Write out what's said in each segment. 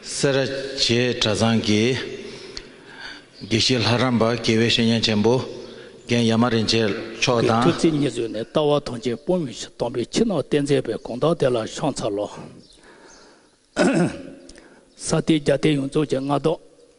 སེ་ར་བྱེས་གྲྭ་ཚང་གི་དགེ་བཤེས་ལྷ་རམས་པ་དགེ་བའི་བཤེས་གཉེན་ཆེན་པོ་རྒན་ཡ་མ་རིན་ཆེན་མཆོག་གི་ཐུགས་དང། རྩེ་གཉིས་བཟུང་ནས་ལྟ་བ་དོན་ཆེན་སྤོང་མི་ཤེས་སྟོང་པའི་ཕྱི་ནང་བསྟན་མཛད་པའི་དགོངས་དག་དེ་ལ་ཤངས་ཚ་ལོ། ས་སྟེང་རྒྱ་སྟེང་ཡོངས་རྫོགས་ཀྱི་མངའ་བདག།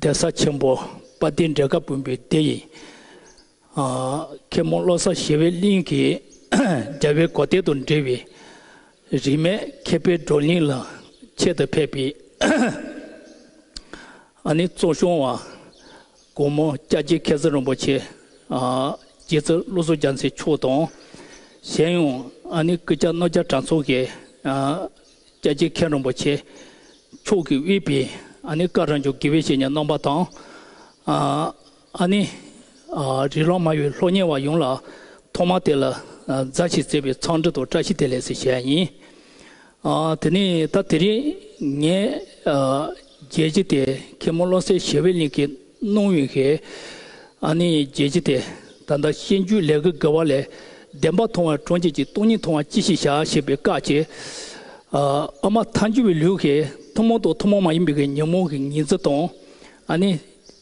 གདན་ས་ཆེན་པོ་དཔའ་སྡེ་འབྲས་དགའ་དཔོན་པོའི་སྡེ་ཡི། མཁན་མོ་བློ་བཟང་ཞི་བའི་གླིང་གི་རྒྱལ་བའི་གོ་ཐལ་དུ་འབྲེལ་བའི། རིས་མེད་མཁས་པའི་བགྲོ་གླིང་ལ་ཆེད་དུ་ཕེབས་པའི། གཙོ་གཞོན་བ་དགོང་མོ་སྐྱ་རྒྱལ་མཁས་བཙུན་རིན་པོ་ཆེ། རྗེ་བཙུན་བློ་བཟང་རྒྱ་མཚོའི་མཆོག་དང། གཞན་ཡང་ཀི་ཀྱཱ་རྣོ་རྒྱ་གྲྭ་ཚོགས་ཀྱི། རྒྱལ་གཅེས་མཁས་རམས་པ་ཆེ་མཆོག་གིས་དབུས་པའི་ཨ་ནི་ཀ་རང་བྱུང་དགེ་བའི་བཤེས་གཉེན་རྣམ་པ་དང། ཨ་ནི་རི་ལང་མ་ཡུལ་ལྷོ་གཉེར་བ་ཡོངས་ལ་ཐོག་མར་དེ་ལ་མཛའ་བཤེས་བརྩེ་བའི་འཚམས་འདྲི་དང་བཀྲ་ཤིས་བདེ་ལེགས་ཞེས་བྱ་ཡ་ཡིན། དེ་ནས་ད་དེ་རིང་ངས་རྒྱལ་གཅེས་དེ་མཁན་མོ་བློ་གསལ་ཞི་བའི་གླིང་གི། གནོང་བའི་ཁེ་ཨ་ནི་རྒྱལ་སྤྱི་དེ་ད་ལྟ་ཤེས་རྒྱུད་ལས་ཀྱི་དགེ་བ་ལས་བདེན་པ་མཐོང་བའི་གྲོང་ཁྱེར་གྱི་སྟོང་ཉིད་མཐོང་བ་ཅི་ཞིག་བྱ་ཞེས་པའི་བཀའ་ཆེ་ཨ་མ་ཐང་ཆུང་བའི་ལུས་ཀྱི་ཐུན་མོང་དང་ཐུན་མོང་མ་ཡིན་པའི་ཉོན་མོངས་ཀྱི་ཉི་རྩེ་དང་ཨ་ནི་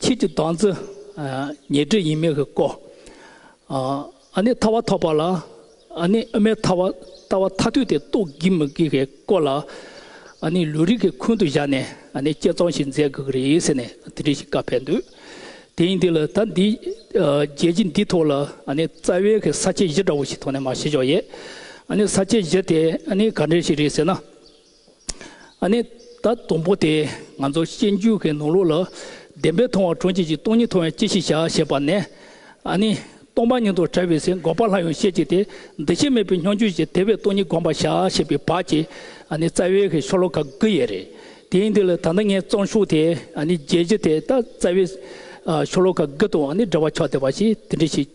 ཕྱིས་ཀྱི་དྭངས་རྩེ་ཉེར་འབྲས་ཡིན་མིན་གྱི་སྐོར། ཨ་ནི་ཐ་བ་ཐོགས་པ་ལ་ཨ་ནི་ཨ་མའི་ཐ་བ་ལྟ་བ་ཐ་དུས་དེ་རྟོགས་དགོས་མི་དགོས་ཀྱི་སྐོར་ལ་ཨ་ནི་ལུས་རིགས་ཀྱི་ཁུངས་དུ་བཞག་ནས་ཨ་ནི་དཔྱད་རྩོམ་ཞིག་མཛད་དགོས་ཀྱི་རེད་ཟེར་ནས་དེ་འདྲའི་ཞིག་བཀའ་ཕེབས་འདུག་དེ་ཡིན་དུས་ལ་ད་འདི་རྒྱལ་སྤྱི་འདིའི་ཐོག་ལ་ཨ་ནི་རྩ་བའི་གི་ས་བཅད་བཞི་འདྲ་བོ་ཞིག་ཐོག་ནས་མ་བཤད་ཆོག་ཡེ་ཨ་ནི་ས་བཅད་བཞི་དེ་ཨ་ནི་ག་འདྲའི་ཞིག་རེད་ཟེར་ན། ནས། ད་དུང་པོ་དེས་ང་ཚོར་གཤེགས་འཇུག་གི་ནོར་ལུག་ལ། བདེན་པའི་མཐོང་བ་གྲོང་ཁྱེར་གྱི་སྟོང་ཉིད་མཐོང་བས་ཅི་ཞིག་བྱ་ཞེས་པ་ནས། སྟོང་པ་ཉིད་དུ་བྱ་བའི་ཚེ་འགོག་པ་ལྷ་ཡང་ཤེས་ཀྱི་དེ་འདི་ཤེས་མེད་པའི་སྙོམས་འཇུག་ཅིག་དེ་བས་སྟོང་ཉིད་བསྒོམ་པར་བྱ་ཞེས་པའི་བར་གྱི། རྩ་བའི་གི་ཤོ་ལོ་ཀ་དགུ་ཡི་རེད། དེའི་འདི་ལ་ད་ལྟ་ངས་གཙང་ཤུགས་དེ་རྒྱས་ཀྱི་དེ་ད་རྩ་བའི། ཤོ་ལོ་ཀ་དགུ་དང་འདྲ་བ་ཆགས་བསྡད་པ་ཞིག་དེ་འདྲ་ཞིག།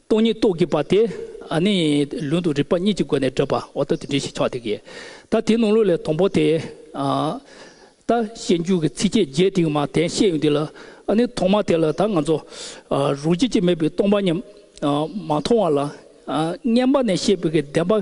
སྟོང་ཉིད་རྟོགས་བགྱིད་པ་དེ་ནི་ལུང་དང་རིགས་པ་གཉིས་ཀྱི་སྒོ་ནས་བགྲོད་པ་འོག་ཏུ་དེ་འདྲའི་ཞེས་ཆོག་དེ་གའི་ད་དེའི་ནང་ལུགས་ལས་དང་པོ་དེ། ད་བཤད་འགྱུར་གྱི་ཚིགས་བཅད་བརྒྱད་དེའི་མ་དེ་བཤད་ཡོད་འདི་ལ་ནི་ཐོག་མ་དེ་ལ་ད་ང་ཚོ་རང་བྱེད་ཀྱི་མེད་པའི་སྟོང་པ་ཉིད་མ་མཐོང་བ་ལ་བསྙེན་པ་ནས་བཤད་པའི་བདེན་པ།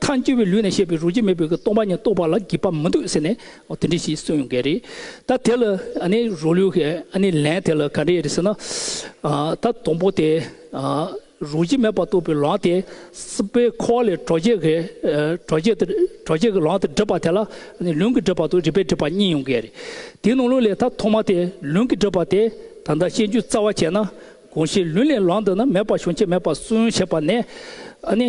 མཐའ་འཁྱོལ་བའི་ལུས་ནས་བཤད་པའི་རོ་བརྒྱ་མེད་པའི་སྟོང་པ་ཉིད་རྟོགས་པ་ལ་བགྱིད་པ་མི་འདུག་ཟེར་ནས་དེ་འདྲས་ཞིག་གསུངས་ཡོང་གི་རེད། ད་དེ་ལ་ནི་རོ་ལུས་ཀྱི་ནི་ལན་དེ་ལ་ག་འདྲས་རེད་ཟེར་ན། ད་དང་པོ་དེ་རོ་བརྒྱ་མེད་པར་རྟོགས་པའི་ལམ་དེ་སྲིད་པའི་འཁོར་བ་ལས་གྲོགས་བརྒྱད་ཀྱི་གྲོགས་བརྒྱད་དེ་གྲོགས་བརྒྱད་ཀྱི་ལམ་དེ་བསྒྲིབས་པ་དེ་ལ་ནི་ལུས་ཀྱི་བསྒྲིབས་པ་དང་རིག་པའི་བསྒྲིབས་པ་གཉིས་ཡོང་གི་རེད། དེའི་ནང་ལུས་ལས་ད་ཐོག་མ་དེ་ལུས་ཀྱི་བསྒྲིབས་པ་དེ་ད་ལྟ་བཤད་རྒྱུ་རྩ་བ་བྱས་ན་གང་ཞིག་ལུས་ལས་ལམ་འདི་ནི་མེད་པར་བྱུང་ཆེད་མེད་པར་སུན་བྱས་པ་ནས་ནི།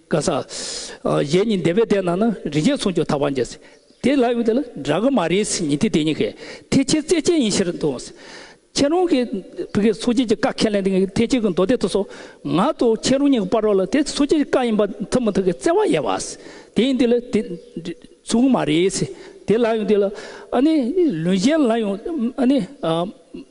བཀའ་སྩལ། གཞན་ཉིད་འདས་པའི་ལྟས་ན་ན་རི་བརྒྱད་མཚུངས་ཀྱང་ཐར་བར་འགྱུར། དེ་ལ་ཡོད་དེ་ལ་འདྲ་གི་མ་རེད་ཉིད་དེ་དེ་གཉིས་ཀས་ཐེག་ཆེན་རྩལ་ཅན་ཡིན་ཕྱིར་དུ། ཁྱེད་རང་གིས་བོད་སྐད་ཚོགས་བརྒྱད་ཀྱི་བཀའ་ཁས་ལེན་དེ་ཐེག་ཆེན་གྱི་མདོ་སྡེ་དུ་སོགས་ང་དང་ཁྱེད་རང་གཉིས་ཀྱི་དཔར་རོ་ལ་དེ་ཚོགས་བརྒྱད་ཀྱི་བཀའ་ཡིན་པ་ཐུབ་མི་ཐུབ་ཀྱི་བརྩེ་བ་ཡལ་བ། དེ་ཡིན་དེ་ལ་དེ་མཚུངས་ཀྱི་མ་རེད། དེ་ལ་ཡོད་དེ་ལ་ཨ་ནི་ལུས་གཞན་ལ་ཡང་ཨ་ནི།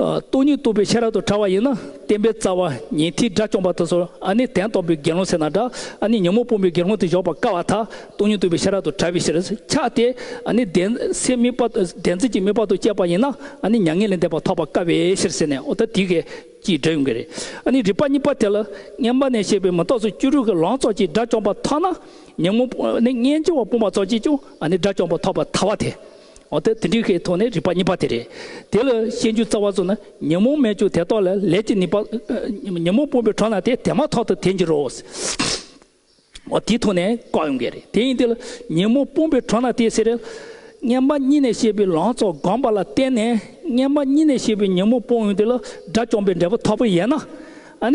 སྟོང་ཉིད་རྟོགས་པའི་ཤེས་རབ་ཏུ་ཕྲ་བ་ཡིན་ན་བསྟན་པའི་རྩ་བ་ཉི་ཐིག་སྒྲ་བཅོམ་པ་དང་སོར་ཨ་ནི་དན་སྟོང་པའི་དགེ་སློང་སེར་སྣ་འདྲ་ཨ་ནི་ཉོན་མོངས་སྤོང་པའི་དགེ་སློང་དུ་གཞོག་པར་དཀའ་བ་དག་སྟོང་ཉིད་རྟོགས་པའི་ཤེས་རབ་ཏུ་ཕྲ་བའི་ཕྱིར་འཆགས་ཏེ་ཨ་ནི་གདན་སའི་དམིགས་པ་གདན་རྩིས་ཀྱི་དམིགས་པ་དང་བཅས་པ་ཡིན་ན་ཨ་ནི་མྱ་ངན་ལས་འདས་པ་ཐོབ་པར་དཀའ་བའི་ཕྱིར་ཟེར་ནས་ཨོ་ད་དི་ཀའི་ཀྱི་སྒྲ་ཡོང་གི་རེད་ཨ་ནི་རིགས་པ་གཉིས་པ་དེ་ལ་བསྙེན་པ་ནས་བཤད་པའི་མི་རྟོག་ཚོགས་བཅུ་དྲུག་གི་ལོངས་ཚོགས་ཀྱིས་དགྲ་བཅོམ་པ་ཐོབ་ན་ཉོན་མོངས་པ་ནི་སྙན་བརྗེ་བ་སྤོང་པ་ཚོགས་ཀྱིས་ཀྱང་ཨ་ནི་དགྲ་བཅོམ་པ་ཐོབ་པར་ཐལ་བ་དེ། འོ་ཐ་དེ་འདྲའི་ཤའི་དོགས་ནི་རིག་པ་གཉིས་པ་དེ་རེད། དེ་ལ་ཤེས་འཇུག་རྩ་བ་སོགས་ནི་ཉོན་མོངས་མེད་ཀྱང་དེ་རྟོགས་ལ་ལས་ཀྱི་ནུས་པ། ཉོན་མོངས་སྤོང་པའི་གྲོགས་ན་དེ་དེ་མ་ཐག་ཏུ་དེ་འགྱུར་རོ། འོ་དེའི་དོགས་ནི་བཀག་ཡོང་གི་རེད་དེ་ཡིན་དེ་ལ་ཉོན་མོངས་སྤོང་པའི་གྲོགས་ན་དེ་ཟེར། སྔན་མ་གཉིས་ནས་བཤད་པའི་ལང་ཚོ་སྒོམ་པ་ལ་བརྟེན་ནས་སྔན་མ་གཉིས་ནས་བཤད་པའི་ཉོན་མོངས་སྤོང་ཡོང་དེ་ལ་དགྲ་བཅོམ་པའི་འབྲས་བུ་ཐོབ་པ་ཡིན་ན།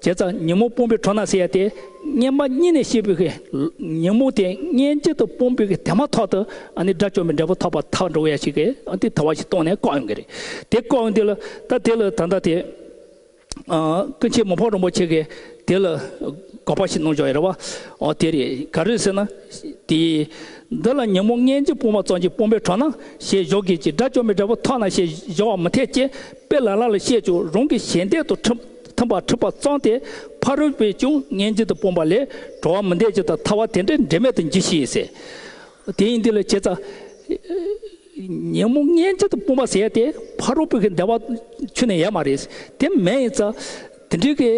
བྱས་ཙང་ཉོན་མོངས་སྤོང་པའི་གྲོགས་ན་སེ་ཡ་སྟེ། སྙེ་མ་གཉིས་ནས་ཤེས་པའི་ཉོན་མོངས་དེ་སྙེ་གཅིག་ཏུ་སྤོང་པའི་དེ་མ་ཐག་ཏུ་ཨ་ནི་དགྲ་བཅོམ་པའི་འབྲས་བུ་ཐོབ་པ་ཐག་འགྲོ་ཡ་ཞིག་གིས་དེ་ཐོབ་བ་ཞིག་སྟོང་ནས་བཀག་ཡོང་གི་རེད། དེ་བཀག་ཡོང་དུས་ལ་ད་དེ་ལ་ད་ལྟ་དེ། ཀུན་མཁྱེན་མོ་ཕག་རིན་པོ་ཆེ་གིས་དེ་ལ་དགག་པ་ཞིག་གནང་བྱུང་ཡོད་རེད་བ། འོ་དེ་རེད་ག་རེད་ཟེར་ན། དེ། འདི་ལ་ཉོན་མོངས་སྙེ་གཅིག་སྤོང་བ་ཙམ་གྱིས་སྤོང་པའི་གྲོགས་ན་ཞེས་བཞོག་གི་ཅིག་དགྲ་བཅོམ་པའི་འབྲས་བུ་ཐོག་ན་ཞེས་བཞོག་བ་མི་འཐད་ཅེས་དཔེ་ལ་ལ་ལ་བཤད་ཅིག་རང་གི་ཞལ་འདེབས་དུ་ཁྲིམས་མཐུན་པར་འཁྲུལ་པ་གཙང་སྟེ་ཕ་རོལ་པོས་ཀྱང་ངན་ཇི་ལྟར་སྤོང་པ་ལས་འགྲོ་བ་མི་འདས་ཇི་ལྟར་ཐར་བ་དེ་འདྲའི་འབྲེལ་མེད་དུ་འགྱུར་ཞེས་ཟེར། དེ་ཡིན་དུས་ལ་བྱེད་ཙམ། ཉིན་མོ་ངན་ཇི་ལྟར་སྤོང་བ་ཟེར་ཏེ་ཕ་རོལ་པོ་གི་འདས་པ་ཆུད་ནས་ཡལ་མ་རེད། དེ་མེད་ཡིན་ཙང་དེ་འདྲའི་གི་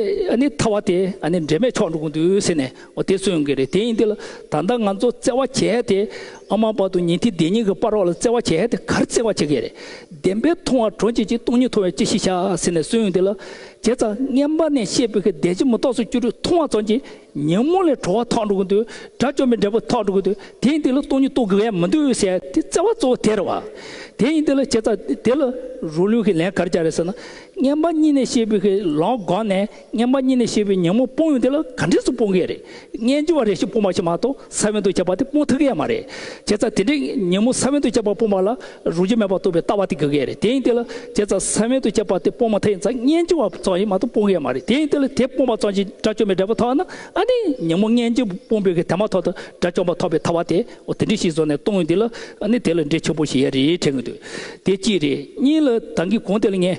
ཐར་བ་དེ་འབྲེལ་མེད་ཆོག་འགྲོ་གི་འདུག་ཟེར་ནས་འོ་དེ་སུ་ཡོང་གི་རེད་དེ་ཡིན་དེ་ལ་ད་ལྟ་ང་ཚོ་བརྩེ་བ་བྱེད་ཡ་དེ་ཨ་མ་པ་དུ་ཉིན་ཐིག་འདི་གཉིས་ཀྱི་པར་རོགས་ལ་བརྩེ་བ་བྱེད་ཡ་དེ་གར་བརྩེ་བ་བྱེད་ཀྱི་རེད་བདེན་པའི་མཐོང་བ་གྲོ་འཇིགས་ཅིག་སྟོང་ཉིད་མཐོང་བའི་ཅི་ཞིག་བྱ་ཟེར་ནས་སུ་ཡོང་དེ་ལ་བྱས་ཙང་རྔན་པ་ནས་བཤད་ཕོད་ཀྱི་འདས་རྗེས་མུ་ཏོག་སུ་སྐྱུ་རུས་མཐོང་བ་ཙམ་གྱིས་ཉིན་མོ་ལས་བྲོ་བ་ཐག་འགྲོ་གི་འདུག་དགྲ་བཅོམ་པའི་འབྲས་བུ་ཐག་འགྲོ་གི་འདུག་དེ་ཡིན་དེ་ལ་སྟོང་ཉིད་རྟོགས་དགོས་ཡ་མི་འདུག་ཟེར་ཡ་དེ་བརྩེ་བ་གཙོ་བོ་དེ་རེད་བ། དེ་ཡིན་དེ་ལ་བྱས་ཙང་དེ་ལ་རུ་ལུས་ཀྱི་ལན་གར་བྱ་རེད་ཟེར་ན་རྔན་པ་གཉིས་ནས་བཤད་ཕོད་ཀྱི་ལོང་སྒང་ནས་སྙམ་པ་གཉིས་ནི་ཞེས་པའི་ཉིན་མོ་སྤོང་ཡུལ་དེ་ལ་ག་འདྲས་སུ་སྤོང་གི་ཡོད་རེད། སྙན་རྒྱུད་བ་རེ་ཞིག་སྤོང་བ་ཞིག་མ་གཏོགས་ས་བོན་དུ་བྱས་པ་དེ་སྤོང་ཐུབ་ཀྱི་ཡ་མ་རེད། བྱས་ཙང་དེ་འདྲའི་ཉིན་མོ་ས་བོན་དུ་བྱས་པ་སྤོང་བ་ལ་རུང་རྒྱུ་མེད་པར་རྟོགས་པའི་ལྟ་བ་དེ་དགོས་ཀྱི་ཡ་རེད་དེ་ཡིན་དེ་ལ་བྱས་ཙང་ས་བོན་དུ་བྱས་པ་དེ་སྤོང་མ་ཐག་ཡིན་ཙང་སྙན་རྒྱུད་བ་ཙམ་ཞིག་མ་གཏོགས་སྤོང་གི་ཡ་མ་རེད་དེ་ཡིན་དེ་ལ་དེ་སྤོང་བ་ཙམ་གྱིས་དགྲ་བཅོམ་པའི་འབྲས་བུ་ཐོབ་ན་ཨ་ནི་ཉིན་མོ་སྙན་རྒྱུད་སྤོང་དགོས་ཀྱི་དེ་མ་ཐོབ་ཏུ་དགྲ་བཅོམ་པ་ཐོབ་པའི་ཐ་བ་དེ་འོ་དེ་འདྲས་ཤིག་བཟོ་ནས་གཏོང་ཡུལ་འདི་ལ་ཨ་ནི་དེ་ལ་འབྲས་ཆོད་པོ་ཞིག་ཡ་རེད་དྲན་གྱི་འདུག་དེ་གཅིག་རེད་གཉིས་ལ་ད་གིན་གོང་དེ་ལ་ངས།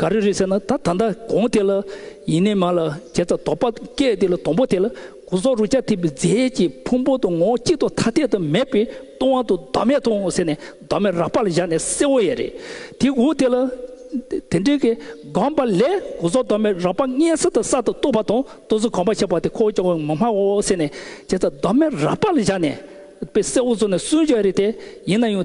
ག་རེ་རེད་ཟེར་ན་ད་ད་ལྟ་གོང་དེ་ལ་ཡིན་ནས་མ་ལ་བྱས་ཙང་དོགས་པ་སྐྱེས་དེ་ལ་དང་པོ་དེ་ལ་གོ་སོག་རུ་ཅག་ཐིབས་པའི་རྫས་ཀྱི་ཕུང་པོ་དང་ངོ་གཅིག་ཏུ་ཐ་དད་དུ་མེད་པས་སྟོང་བ་དང་བདག་མེད་དང་ཟེར་ནས་བདག་མེད་རགས་པ་ལ་བཞག་ནས་གསལ་བོ་ཡས་རེད་དེ་འོ་དེ་ལ་དེ་འདྲའི་གི་སྒང་པ་ལས་གོ་སོག་བདག་མེད་རགས་པ་ལྔའི་གསེར་དང་གསར་དུ་བཏུ་བ་དང་བཏུ་ཟོ་གང་པ་བྱས་པ་དེ་ཁོ་བོ་ཅག་མི་སྨྲ་བའོ་ཟེར་ནས་བྱས་ཙང་བདག་མེད་རགས་པ་ལ་བཞག་ནས་པས་གསལ་བོ་བཟོ་ནས་གསུངས་བྱས་རེད་དེ་ཡིན་ན་ཡང།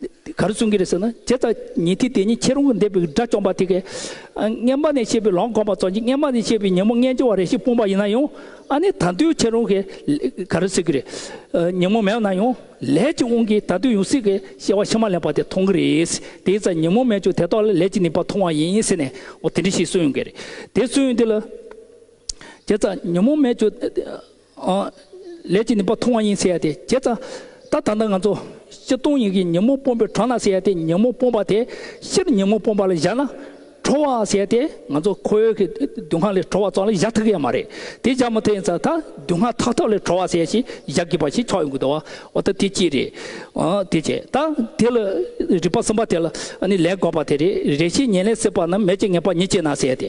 ག་རེ་གསུང་གི་རེད་ཟེར་ན་དེ་ལྟར་ཉིད་དེ་དེ་ཉིད་ཁྱེད་རང་གི་འདས་པའི་དགྲ་བཅོམ་པ་དེ་གའི་རྔན་པ་ནས་བཤད་པའི་ལོང་གོམས་པ་ཙོང་གི་རྔན་པ་ནས་བཤད་པའི་ཉིན་མོ་རྔན་ཆེ་བ་རེ་ཞིག་སྤུངས་པ་ཡིན་ན་ཡང་ཨ་ནི་ད་དུས་ཁྱེད་རང་གི་ག་རེ་ཟེར་གི་རེད་ཉིན་མོ་མེད་ན་ཡང་ལས་ཀྱི་དབང་གིས་ད་དུས་ཡང་སྲིད་ཀྱི་ཤེས་བ་ཕྱི་མ་ལེན་པ་དེ་མཐོང་གི་རེད་དེའི་རྩ་ཉིན་མོ་མེད་ཀྱང་དེ་དག་ལ་ལས་ཀྱི་ནུས་པ་མཐོང་བ་ཡིན་ཟེར་ནས་འོ་དེ་འདྲི་ཞིག་གསུང་ཡོང་གི་རེད་དེ་གསུང་ཡོང་དུས་ལ་དེ་རྩ་ཉིན་མོ་མེད་ཀྱང། ལས་ཀྱི་ནུས་པ་མཐོང་བ་ཡིན་ཟེར་ཏེ་བྱས་ཙང། ད་ད་ལྟ་ང་ཚོ་སྤྱི་སྟོང་ཡིག་གིས་ཉིན་མོ་སྤོམ་པའི་གྲོང་ན་ཟེར་ཏེ་ཉིན་མོ་སྤོམ་པ་དེ་ཕྱིར་ཉིན་མོ་སྤོམ་པ་ལ་བཞག་ན་ཁྲོ་བ་ཟེར་ཏེ་ང་ཚོ་ཁོ་བོའི་གི་དུད་ཁང་ལས་ཁྲོ་བ་ཙམ་ལས་བཞག་ཐུག་གི་ཡ་མ་རེད་དེ་བཞག་མི་ཐུག་ཡིན་ཙང་ད་དུད་ཁང་ཐག་ཐག་ལས་ཁྲོ་བ་ཟེར་ཞིག་བཞག་དགོས་པ་ཞིག་ཆགས་ཡོང་གི་འདུག་བ་ད་དེ་ཅི་རེད་ཨ་དེ་བྱས་ད་དེ་ལ་རིག་པ་གསུམ་པ་དེ་ལ་ནི་ལས་དགོས་པ་དེ་རེད་རེ་ཤིག་ཉེན་ལས་སྲིད་པ་རྣམས་མེད་ཅེས་ངེས་པ་ཉིད་ཅེ་ན་ཟེར་ཏེ་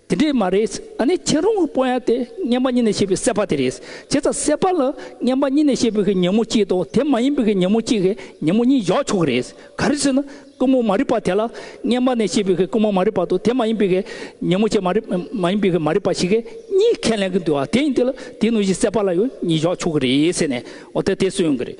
དེ་འདྲས་མ་རེད། ཨ་ནི་ཁྱེད་རང་གི་པོ་ཡང་དེ་སྙན་པ་གཉིས་ནས་ཤེས་པའི་སྲེད་པ་དེ་རེད། བྱས་ཙང་སྲེད་པ་ལ་སྙན་པ་གཉིས་ནས་ཤེས་པའི་ཉིན་མོ་གཅིག་དང་དེ་མ་ཡིན་པའི་ཉིན་མོ་གཅིག་ཉིན་མོ་གཉིས་བཞག་ཆོག་གི་རེད། ག་རེ་ཟེར་ན་རྐུན་མོ་མ་རིག་པ་དེ་ལ་སྙན་པ་ནས་ཤེས་པའི་རྐུན་མོ་མ་རིག་པ་དང་དེ་མ་ཡིན་པའི་ཉིན་མོ་ཆེ་མ་ཡིན་པའི་མ་རིག་པ་ཞིག་གཉིས་ཁས་ལེན་གྱི་འདུག་ཨ་དེ་ཡིན་དུས་ལ་དེའི་ནང་བཞིན་སྲེད་པ་ལ་ཡང་གཉིས་བཞག་ཆོག་གི་རེད་ཟེར་ནས་འོ་དེ་དེ་སུན་ཡོང་གི་རེད།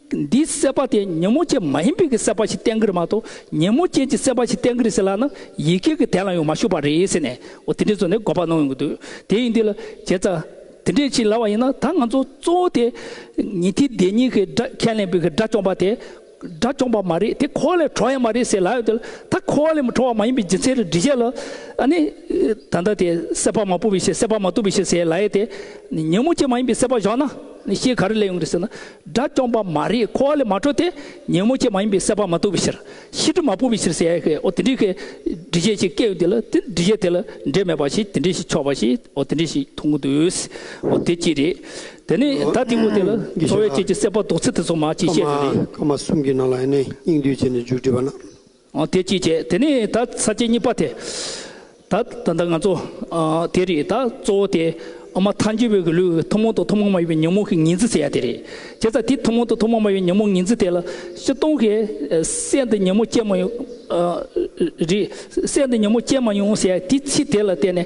འདིའི་བསད་པ་དེ་ཉིན་མོ་ཅན་མ་ཡིན་པའི་གི་བསད་པ་ཞིག་བསྟན་གི་རེད་མ་གཏོགས་ཉིན་མོ་ཅན་གྱི་བསད་པ་ཞིག་བསྟན་གི་རེད་ཟེར་ལ་ནི་ཡི་གེ་གི་དན་ལ་ཡང་མ་ཞུགས་པ་རེད་ཟེར་ནས་འོ་དེ་འདྲའི་བཟོ་ནས་འགོ་པ་གནང་ཡོང་གི་འདུག་དེ་ཡིན་དུས་ལ་བྱས་ཙང་དེ་འདྲས་བྱེད་སླ་བ་ཡིན་ན་ད་ང་ཚོ་གཙོ་བོ་དེ་ཉིན་དེའི་བདེན་གཉིས་གི་སྒྲ་ཁས་ལེན་པའི་གི་སྒྲ་བཅོམ་པ་དེ་སྒྲ་བཅོམ་པ་མ་རེད་དེ་ཁོ་བ་ལས་གྲོལ་བ་ཡང་མ་རེད་ཟེར་ལ་ཡོད་དུས་ལ་ད་ཁོ་བ་ལས་མི་གྲོལ་བ་མ་ཡིན་པའི་རྒྱུ་མཚན་རེ་འདྲི་བྱས་ལ་ཨ་ནི་ད་ལྟ་དེ་བསད་པ་མ་བུ་བའི་ཕྱིར་བསད་པ་མ་བཏུབ་པའི་ཕྱིར་ཟེར་ལ་ཡས་དེ་ཉིན་མོ་ཅན་མ་ཡིན་པའི་བསད་པ་བཞག་ན། ནི་ཞེས་ག་རེ་ལས་ཡོང་གི་རེད་ཟེར་ན། དགྲ་བཅོམ་པ་མ་རིག་འཁོར་བ་ལས་མ་གྲོལ་ཏེ། ཉོན་མོངས་ཆེ་མ་ཡིན་པས་སྲེད་པ་མ་ཐུབ་པའི་ཕྱིར། ཤི་དྲི་མ་སྤོང་བའི་ཕྱིར་ཟེར་ཡ་ཧེ་ཨོ་དེ་འདྲའི་ཁའི། འདྲི་བྱེད་ཅིག་སྐྱེ་ཡོད་དེ་ལ་དེ་འདྲི་བྱེད་དེ་ལ་འདྲེས་མེད་པ་ཞིག་དེ་འདྲའི་ཞིག་ཆོག་པ་ཞིག་ཨོ་དེ་འདྲའི་ཞིག་མཐོང་གི་འདུག་ཨོ་དེ་གཅིག་རེད། དེ་ནས་ད་ལྟའི་སྐོར་དེ་ལ་འཚོ་བའི་དཔྱད་ཀྱི་སྲེད་པ་ལྡོག་ཚུལ་དེ་ཚོ་མ་གཅིག་བཤད་རྒྱུ་རེད། ཀ་མ་གསུམ་གྱི་ནང་ལ་ཡེ་ནས་སྙིང་བསྡུས་བྱས་ནས་འཇུག་བྲིས་པ་ན། དེ་ཅིས་བྱེད་དེ་ནི་ད་ས་བཅད་གཉིས་པ་དེ། ད་ད་ང་ཚོ་དེ་རེད་ད་གཙོ་བོ་དེ་འོ་མ་ཐཱན་གྱི་བོད་ཀྱི་ལུགས་ཐུན་མོང་དང་ཐུན་མོང་མ་ཡིན་པའི་ཉོན་མོངས་ཀྱི་ངེས་འཛིན་ཟེར་ཡ་དེ་རེད་བྱས་ཙང་དེ་ཐུན་མོང་དང་ཐུན་མོང་མ་ཡིན་ཉོན་མོངས་ངེས་འཛིན་དེ་ལ་ཕྱི་སྟོང་གི་སེམས་དེ་ཉོན་མོངས་སྐྱེ་མ་ཡོང་རེད་སེམས་དེ་ཉོན་མོངས་སྐྱེ་མ་ཡོང་ཟེར་ཡ་དེ་ཚིག་དེ་ལ་བརྟེན་ནས།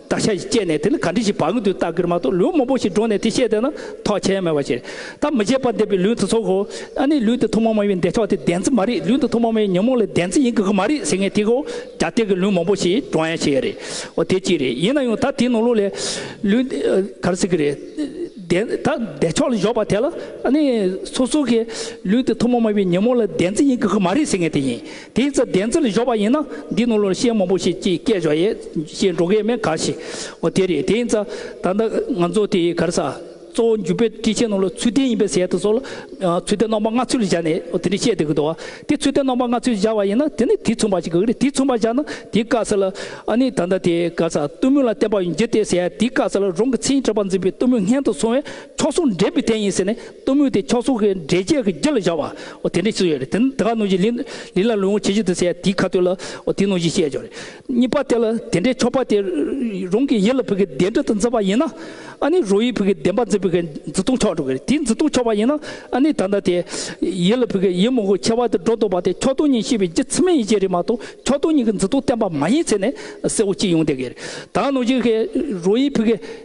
དག་ཆ་ཞིག་སྤྱད་ནས་དེ་ལ་ག་འདྲི་ཞིག་བག་ཡོད་དུ་བལྟ་གིར་མ་གཏོགས་ལུས་མང་པོ་ཞིག་བསྒྲོན་ནས་དེ་བཤད་དེ་ན་ཐོག་ཆེན་མེད་པ་ཞིག་རེད་ད་མི་བྱེད་པར་འདས་པའི་ལུས་འདི་ཚོ་གོ་ཨ་ནི་ལུས་འདི་ཐུགས་མ་མ་ཡིན་འདས་ཆོག་དེ་བདེན་རྫི་མ་རེད་ལུས་འདི་ཐུགས་མ་མ་ཡིན་ཉོན་མོངས་ལས་བདེན་རྫི་ཡིན་དགོས་གི་མ་རེད་ཟེར་ངེས་དེ་གོ་རྒྱ་སྟེགས་ཀྱི་ལུས་མང་པོ་ཞིག་བསྒྲོན་ཡ་ཤེས་ཡ་རེད་འོ་དེ་གཅིག་རེད་ཡིན་ན་ཡང་ད་དེའི་ནང་ལུགས་ལས་ལུས་འདི་གར་སྲིད་གི་རེད་བདེན་ད་འདས་ཆོག་ལ་བཞོག་པ་དེ་ལ་ཨ་ནི་སོ་སོ་གིས་ལུས་འདི་ཐུགས་མ་མ་ཡིན་ཉོན་མོངས་ལས་བདེན་རྫི་ཡིན་དགོས་གི་མ་རེད་ཟེར་ངེས་དེ་ཡིན་དེའི་ཚེ་བདེན་ཚིག་ལ་གཞོག་པ་ཡིན་ན་འདི་ནོར་ལོར་ཤེས་མང་པོ་ཞིག་ཅིག་སྐྱེས་བྱ་ཡས་ཞེས་འགྲོ་མཁན་མེད་ག་ཞེས་འོ་དེ་རེད་དེ་ཡིན་ཚ་ད་ལྟ་ང་ཚོ་དེ་གར་ས་གཙོ་བོ་འཇུ་དཔེ་དཀྲི་ཆེན་ནོར་ལོ་ཚུལ་ལྡན་ཡིན་པའི་ཟས་དང་སོགས་ལ་ཚུལ་ལྡན་རྣམ་པ་ལྔ་ཚུལ་བཞག་ནས་འོ་དེ་འདྲ་བཤད་བསྡད་གི་འདུག་བ་དེ་ཚུལ་ལྡན་རྣམ་པ་ལྔ་ཚུལ་བཞག་བ་ཡིན་ན་དེ་ནི་དེ་མཚུངས་པ་ཞིག་གི་རེད་དེ་མཚུངས་པ་བཞག་ན་དེ་བཀག་ས་ལ་ཨ་ནི་ད་ལྟ་དེ་གར་ས་གཏུམ་མོས་ལ་བསྟན་པ་ཡོང་རྒྱུ་དེ་ཟས་དེ་བཀག་ས་ལ་རང་གི་ཚེ་ཡི་གྲགས་པ་འཛིན་པའི་གཏུམ་མོས་སྔན་དུ་སོང་བས་མཆོག་ཟུང་འབྲེལ་པའི་དན་ཡིན་ཟེར་ནས་གཏུམ་མོའི་དེ་ཁྱོགས་སོགས་ཀྱི་འདྲེ་བརྒྱད་ཀྱི་རྒྱུད་ལ་བཞག་བ། དེ་འདྲའི་ཚུལ་ཡོད་རེད། དེ་དག་གནོད་སྦྱིན་ལི་ལ་ལུས་ངག་ཇི་བཞིན་དུ་བསད་དེའི་ཁ་ཐོད་ལ། དེའི་གནོད་སྦྱིན་ཤེས་བྱ་རེད། གཉིས་པ་དེ་ལ་དེ་འདྲའི་ཁྱོགས་པ་དེ། རང་གི་ཡིད་ལ་བུ་གའི་བདེ་འབྲས་དུ་འཛིན་པ་ཡིན་ན། ཨཱ་ནི་རོ་ཡིས་བུ་གའི་བདེན་པ་འཛིན་པའི་གའི་འཛིན་སྟངས་ཁྱོགས་འགྲོ་གི་རེད། དེའི་འཛིན་སྟངས་ཁྱོགས་པ་ཡིན་ན། ཨཱ་ནི་ད་ལྟ་དེ། ཡིད་ལ་བུ་གའི་ཡིད་མང་པོ་ཁྱེར་བ་དེ་སྒྲོ་འདོགས་པ་དེ་ཁྱོགས་སྟོང་ཉིད་ཤེས་པའི་རྒྱུ་མཚན་མ་ཡིན་ཅེས་རེད་མ་གཏོགས་ཁྱོགས་སྟོང་ཉིད་ཀྱི་འཛིན་སྟངས་བསྟན་པ་མ་ཡིན་ཚེ་ནས་གསལ་བོ་གཅིག་ཡོང་བསྡད་ཀྱི་རེད། ད་གནོད་སྦྱིན་ཧེ་རོ་ཡིས་བུ་གའི།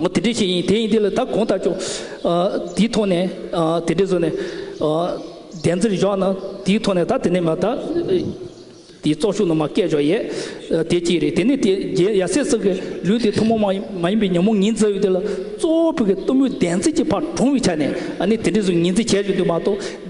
ངོ་དེ་འདྲས་ཤིག་ཡིན་དེ་ཡིན་དེ་ལ་ད་གོང་ལྟར་ཆོག། དེའི་ཐོག་ནས་དེ་འདྲས་བཟོས་ནས་བདེན་རྩིར་བཞག་ན་དེའི་ཐོག་ནས་ད་དེ་ནས་མ་ད། དེའི་ཙོག་ཤུགས་ནང་མ་སྐད་བྱོ་ཡས་དེ་གཅིག་རེད་དེ་ནས་དེ་རྒྱལ་ཡ་སེ་སོགས་ཀྱིས་ལུས་དེ་ཐུན་མོང་མ་མ་ཡིན་པའི་ཉོན་མོངས་ངེས་འཛིན་ཡོད་དེ་ལ་གཙོ་བོ་བོད་ཀྱི་གཏུམ་མོའི་བདེན་རྩིས་ཀྱི་ཕར་གྲོངས་པའི་ཆ་ནས་ནི་དེ་འདྲས་བཟོས་ངེས་འཛིན་བྱས་ཡོད་དེ་མ་གཏོགས།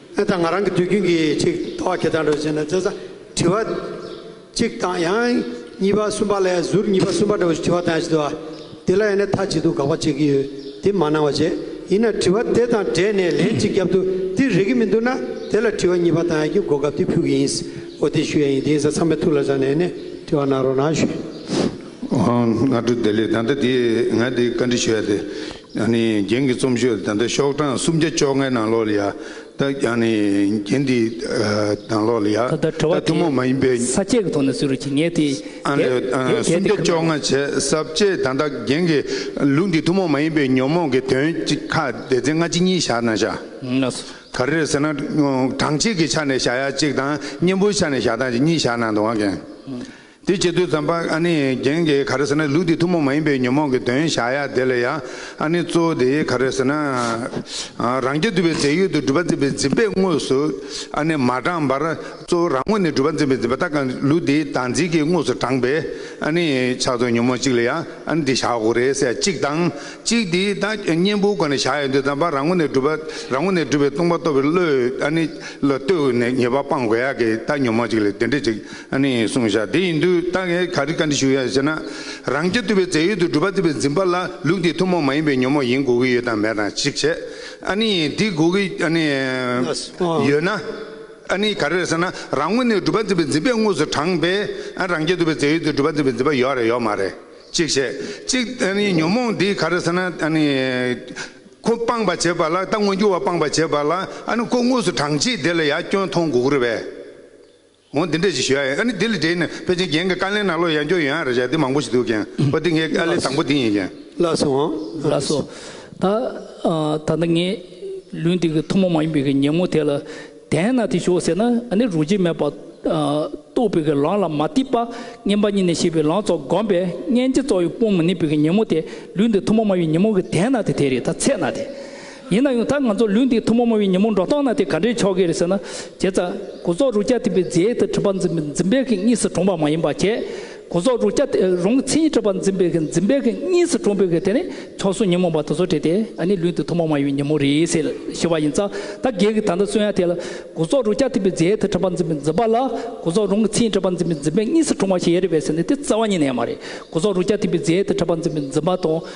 ཨེ་ད་ང་རང་གི་དུས་རྒྱུན་གྱི་ཅིག་ལྟ་བ་ཁྱེད་དང་འགྲོགས་བྱས་ན་བཙལ་ས་དྲི་བ་གཅིག་དང་ཡང་གཉིས་པ་གསུམ་པ་ལས་ཟུར་གཉིས་པ་གསུམ་པ་འདྲ་བོ་ཞིག་དྲི་བ་དང་ཡང་ཞིག་ལྟ་བ་དེ་ལ་ཡང་ནས་ཐ་ཇི་ཐུག་དགག་པ་བྱེད་ཀྱི་ཡོད་དེ་མ་གནང་བ་བྱས་ཡིན་ན་དྲི་བ་དེ་དང་འབྲེལ་ནས་ལན་གཅིག་རྒྱབ་ཏུ་འདིར་རེག་གི་མི་འདུག་ན་དེ་ལ་དྲི་བ་གཉིས་པ་དང་ཡང་གི་གོ་སྐབས་དེ་ཕུལ་གྱི་ཡིན་འོ་དེ་ཞུ་ཡ་ཡིན་དེ་ཡིན་ས་ཚང་མས་ཐུགས་ལ་བཞག་ནས་ནས་དྲི་བ་གནང་རོགས་གནང་ཞུ། ཨོ་ང་དྲུག་བདེ་ལེགས་ད་ལྟ་དེ་ང་དེ་བཀའ་འདྲི་ཞུ་ཡ་དེ། ཡང་ནི་རྒྱན་གྱི་རྩོམ་ཤོས་དེ་དག་ཤོག་གྲངས་སུམ་བརྒྱ་བཅོ་ལྔའི་ནང་ལོགས་ལ་ཡ། དག་ཡང་ནི་རྒྱན་དེའི་ནང་ལོགས་ལ་ཡ། ད་ལྟར་དྲི་བ་དེ་ས་བཅད་ཀྱི་ཐོག་ནས་ཟུར་བཅད་ངེས་ཏེ། ཨ་ལས། སུམ་བརྒྱ་བཅོ་ལྔ་བྱས་ས་བཅད་ད་དག་རྒྱན་གྱི་ལུགས་འདི་ཐུན་མོང་མ་ཡིན་པའི་ཉོན་མོངས་ཀྱི་དོན་གཅིག་ཁ་བདེ་རྫས་སྔ་ཕྱི་གཉིས་བཞག་ན་བྱ། ན་སོ། ག་རེ་ཟེར་ན། གྲངས་གཅིག་གི་ཆ་ནས་བྱ་ཡ་གཅིག་དང་གཉེན་པོའི་ཆ་ནས་བྱ་དང་གཉིས་བཞག་ན་འདུག་ཨང། དེའི་ཆེད་དུ་ཙམ་པ་ཨ་ནི་རྒྱན་གྱིས་ག་རེ་ཟེར་ན་ལུགས་འདིའི་ཐུན་མོང་མ་ཡིན་པའི་ཉོན་མོངས་ཀྱི་དོན་བཞག་ཡ་དེ་ལ་ཡང་ཨ་ནི་གཙོ་བོ་དེ་ག་རེ་ཟེར་ན། རང་རྒྱལ་དུ་བའི་རྫས་ཡོད་དུ་སྒྲུབ་པ་འཛིན་པའི་འཛིན་པས་དངོས་སུ་ཨ་ནི་མ་དྲངས་པར་གཙོ་བོ་རང་ངོ་ནས་སྒྲུབ་པ་འཛིན་པའི་འཛིན་པ་ལྟ་གང་ལུགས་འདིའི་བདག་འཛིན་གྱིས་དངོས་སུ་དྲངས་པའི་ཨ་ནི་ཕྱག་ཏུ་ཉོན་མོངས་གཅིག་ལ་ཡང་ཨ་ནི་འདི་བཞག་གོ་རེ་ཟད་གཅིག་དང་གཅིག་དེའི་བདག་གཉེན་པོའི་སྒོ་ནས་བཞག་ཡ་འདི་ཙམ་པ་རང་ངོ་ནས་སྒྲུབ་པ་རང་ངོ་ནས་སྒྲུབ་པའི་ལྟུང་བ་གཏོར་བའི་བློས་ཨ་ནི་ལ་ལྟོས་ནས་ཉེས་པ་སྤང་དགོས་ཡ་གི་བདག་ཉོན་མོངས་གཅིག་ལས་དེ་འདྲ་གཅིག་ནི་བསྲུང་བྱ་དེ་ཡིན་དུས་རྟ་ཁལ་ག་རི་ག་འདི་ཞུ་ཡ་ཟེར་ན། རང་སྐྱ་ཐུབ་པའི་རྫས་ཡོད་དུ་སྒྲུབ་པ་རྩིས་པའི་འཛིན་པ་ལ་ལུགས་འདིས་ཐུན་མོང་མ་ཡིན་པའི་ཉོན་མོངས་ཡིན་དགོས་ཀྱི་ཡོད་དམ་མེད་དང་གཅིག་བྱས། ཨ་ནི་འདི་དགོས་ཀྱི་ཨ་ནི། ཡོད་ན། ཨ་ནི་ག་རེ་རེད་ཟེར་ན་རང་ངོས་ནས་སྒྲུབ་པ་རྩིས་པའི་འཛིན་པས་དངོས་སུ་དྲངས་པས་ཨ་རང་སྐྱ་ཐུབ་པའི་རྫས་ཡོད་དུ་སྒྲུབ་པ་རྩིས་པའི་འཛིན་པ་ཡོད་རེད་ཡོད་མ་རེད་གཅིག་བྱས། གཅིག་ཨ་ནི་ཉོན་མོངས་འདི་ག་རེ་ཟེར་ན་ཨ་ནི། ཁོ་སྤངས་པར་བྱེད་པ་ལ་རྟ་དངོས་འགྱུར་བ་སྤངས་པར་བྱེད་པ་ལ་ཨ་ནི་ཁོ་དངོས་སུ་དྲངས་རྗེས་དེ་ལ་ཡ་སྐྱོན་མཐོང་དགོས་ཀྱི་རེད་པས། འོང་འདི་འདྲས་ཅིག་ཞུ་ཡ་ཡིན་ཨ་ནི་འདི་ལ་འབྲེལ་ནས་དཔེ་ཅན་རྒན་གྱི་དཀའ་ལས་ནང་ལོག་ཡང་སྐྱོར་ཡོད་ཡང་རེད་བྱ་འདི་མང་པོ་ཞིག་འདུག་རྒན་པ་འདི་ངའི་དཀའ་ལས་དང་པོ་འདི་ཡིན་རྒན། ལགས་སོ། ལགས་སོ། ད། ད་ནི་ངས། ལུས་འདི་གི་ཐུན་མོང་མ་ཡིན་པའི་གི་ཉིན་མོ་དེ་ལ། དེས་ན་དེ་ཞོག་ཟེར་ན་ཨ་ནི་རུ་ཅི་མེད་པར། རྟོགས་པའི་གི་ལང་ལ་མ་གཏིགས་པ། བསྙེན་པ་གཉིས་ནས་ཤེས་པའི་ལང་ཚོ་བསྒོམས་པས་སྙན་བརྗེ་རྩོག་ཡོད་སྤོང་མི་ནུས་པའི་གི་ཉིན་མོ་དེ། ལུས་འདི་ཐུན་མོང་མ་ཡིན་པའི་ཉིན་མོ་གི་དེས་ན་དེ་དེ་རེད་ད་ཚེས་ན་དེ། ཡིན་ན་ཡང་ད་ང་ཚོ་ལུས་འདི་ཐུན་མོང་མ་བའི་ཉིན་མོ་འགྲོ་སྟངས་ན་དེ་ག་འདྲའི་ཆོ་གས་རེད་ཟེར་ན། དེ་ལྟ། སྒོ་ཟོག་རུ་སྐྱ་དེ་པའི་རྫས་དེ་གྲིབ་པ་འཛིན་པའི་འཛིན་པའི་གིང་གཉིས་སུ་གྲོངས་པ་མ་ཡིན་པ་ཁྱེད། སྒོ་ཟོག་རུ་སྐྱ་དེ་རུང་ཚིག་གཉིས་གྲིབ་པ་འཛིན་པའི་གིང་འཛིན་པའི་གིང་གཉིས་སུ་གྲོངས་པའི་གིང་དེ་ནི་ཆོ་གསུང་ཉིན་མོ་བ་དེ་ཚོ་དྲིས་ཏེ་ཨ་ནི་ལུས་འདི་ཐུན་མོང་མ་བའི་ཉིན་མོ་རེད་ཟེར་ཞུ་བ་ཡིན་ཙང་ད་གེ་གི་ད་ལྟ་གསུང་ཡ་དེ་ལ། སྒོ་ཟོག་རུ་སྐྱ་དེ་པའི་རྫས་དེ་གྲིབ་པ་འཛིན་པའི་འཛིན་པ་ལ་སྒོ་ཟོག་རུང་གི་ཚིག་གྲིབ་པ་འཛིན་པའི་འཛིན་པའི་གཉིས་སུ་གྲོངས་པ་ཞེས་ཡ་རེད་བས་ཟེར་ནས་དེ་རྩ་བ་ཉིད་ནས་མ་རེད་སྒོ་ཟོག་རུ་སྐྱ་དེ་པའི་རྫས་དེ་གྲིབ་པ་འཛིན་པའི་འཛིན་པ་དང་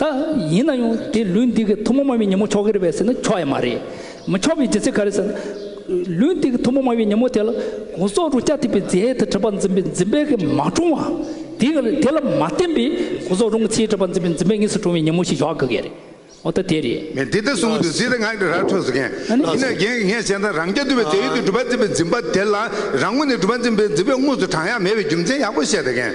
ད་ཡིན་ན་ཡང་དེ་ལུས་འདི་གི་ཐུན་མོང་མ་བའི་ཉིན་མོ་ཆོག་གི་རེད་པས་ཟེར་ན་ཆོག་ཡ་མ་རེད། མི་ཆོག་པའི་རྒྱུ་མཚན་ག་རེད་ཟེར་ན། ལུས་འདི་གི་ཐུན་མོང་མ་བའི་ཉིན་མོ་དེ་ལ་གོང་སོག་རུ་སྐྱ་ཐིག་པའི་རྫས་དེ་གྲུབ་པ་འཛིན་པའི་འཛིན་པའི་གི་མ་བཀྲུང་བ། དེ་གི་དེ་ལ་མ་བརྟེན་པའི་གོང་སོག་རུང་གི་ཚེའི་གྲུབ་པ་འཛིན་པའི་འཛིན་པའི་གཉིས་སུ་བཀྲུང་བའི་ཉིན་མོ་ཞིག་ཡོག་གི་གི་རེད། འོ་ད་དེ་རེད། མེད་འདི་ལྟར་གསུངས་འདུག་ཟིན་ལ་ངག་གི་རར་འཕྲོ་ཟེར་མཁན། ཡིན་ན་རྒན་གི་ངས་བཤད་ན་རང་རྐྱ་འདུལ་བའི་རྫས་ཡོད་དུས་གྲུབ་པ་འཛིན་པའི་འཛིན་པ་དེ་ལ་རང་ངོ་ནས་གྲུབ་པ་འཛིན་པའི་འཛིན་པའི་དངོས་སུ་བགྲང་ཡག་མེད་པའི་རྒྱུ་མཚན་ཡག་པོ་བཤད་དགེན།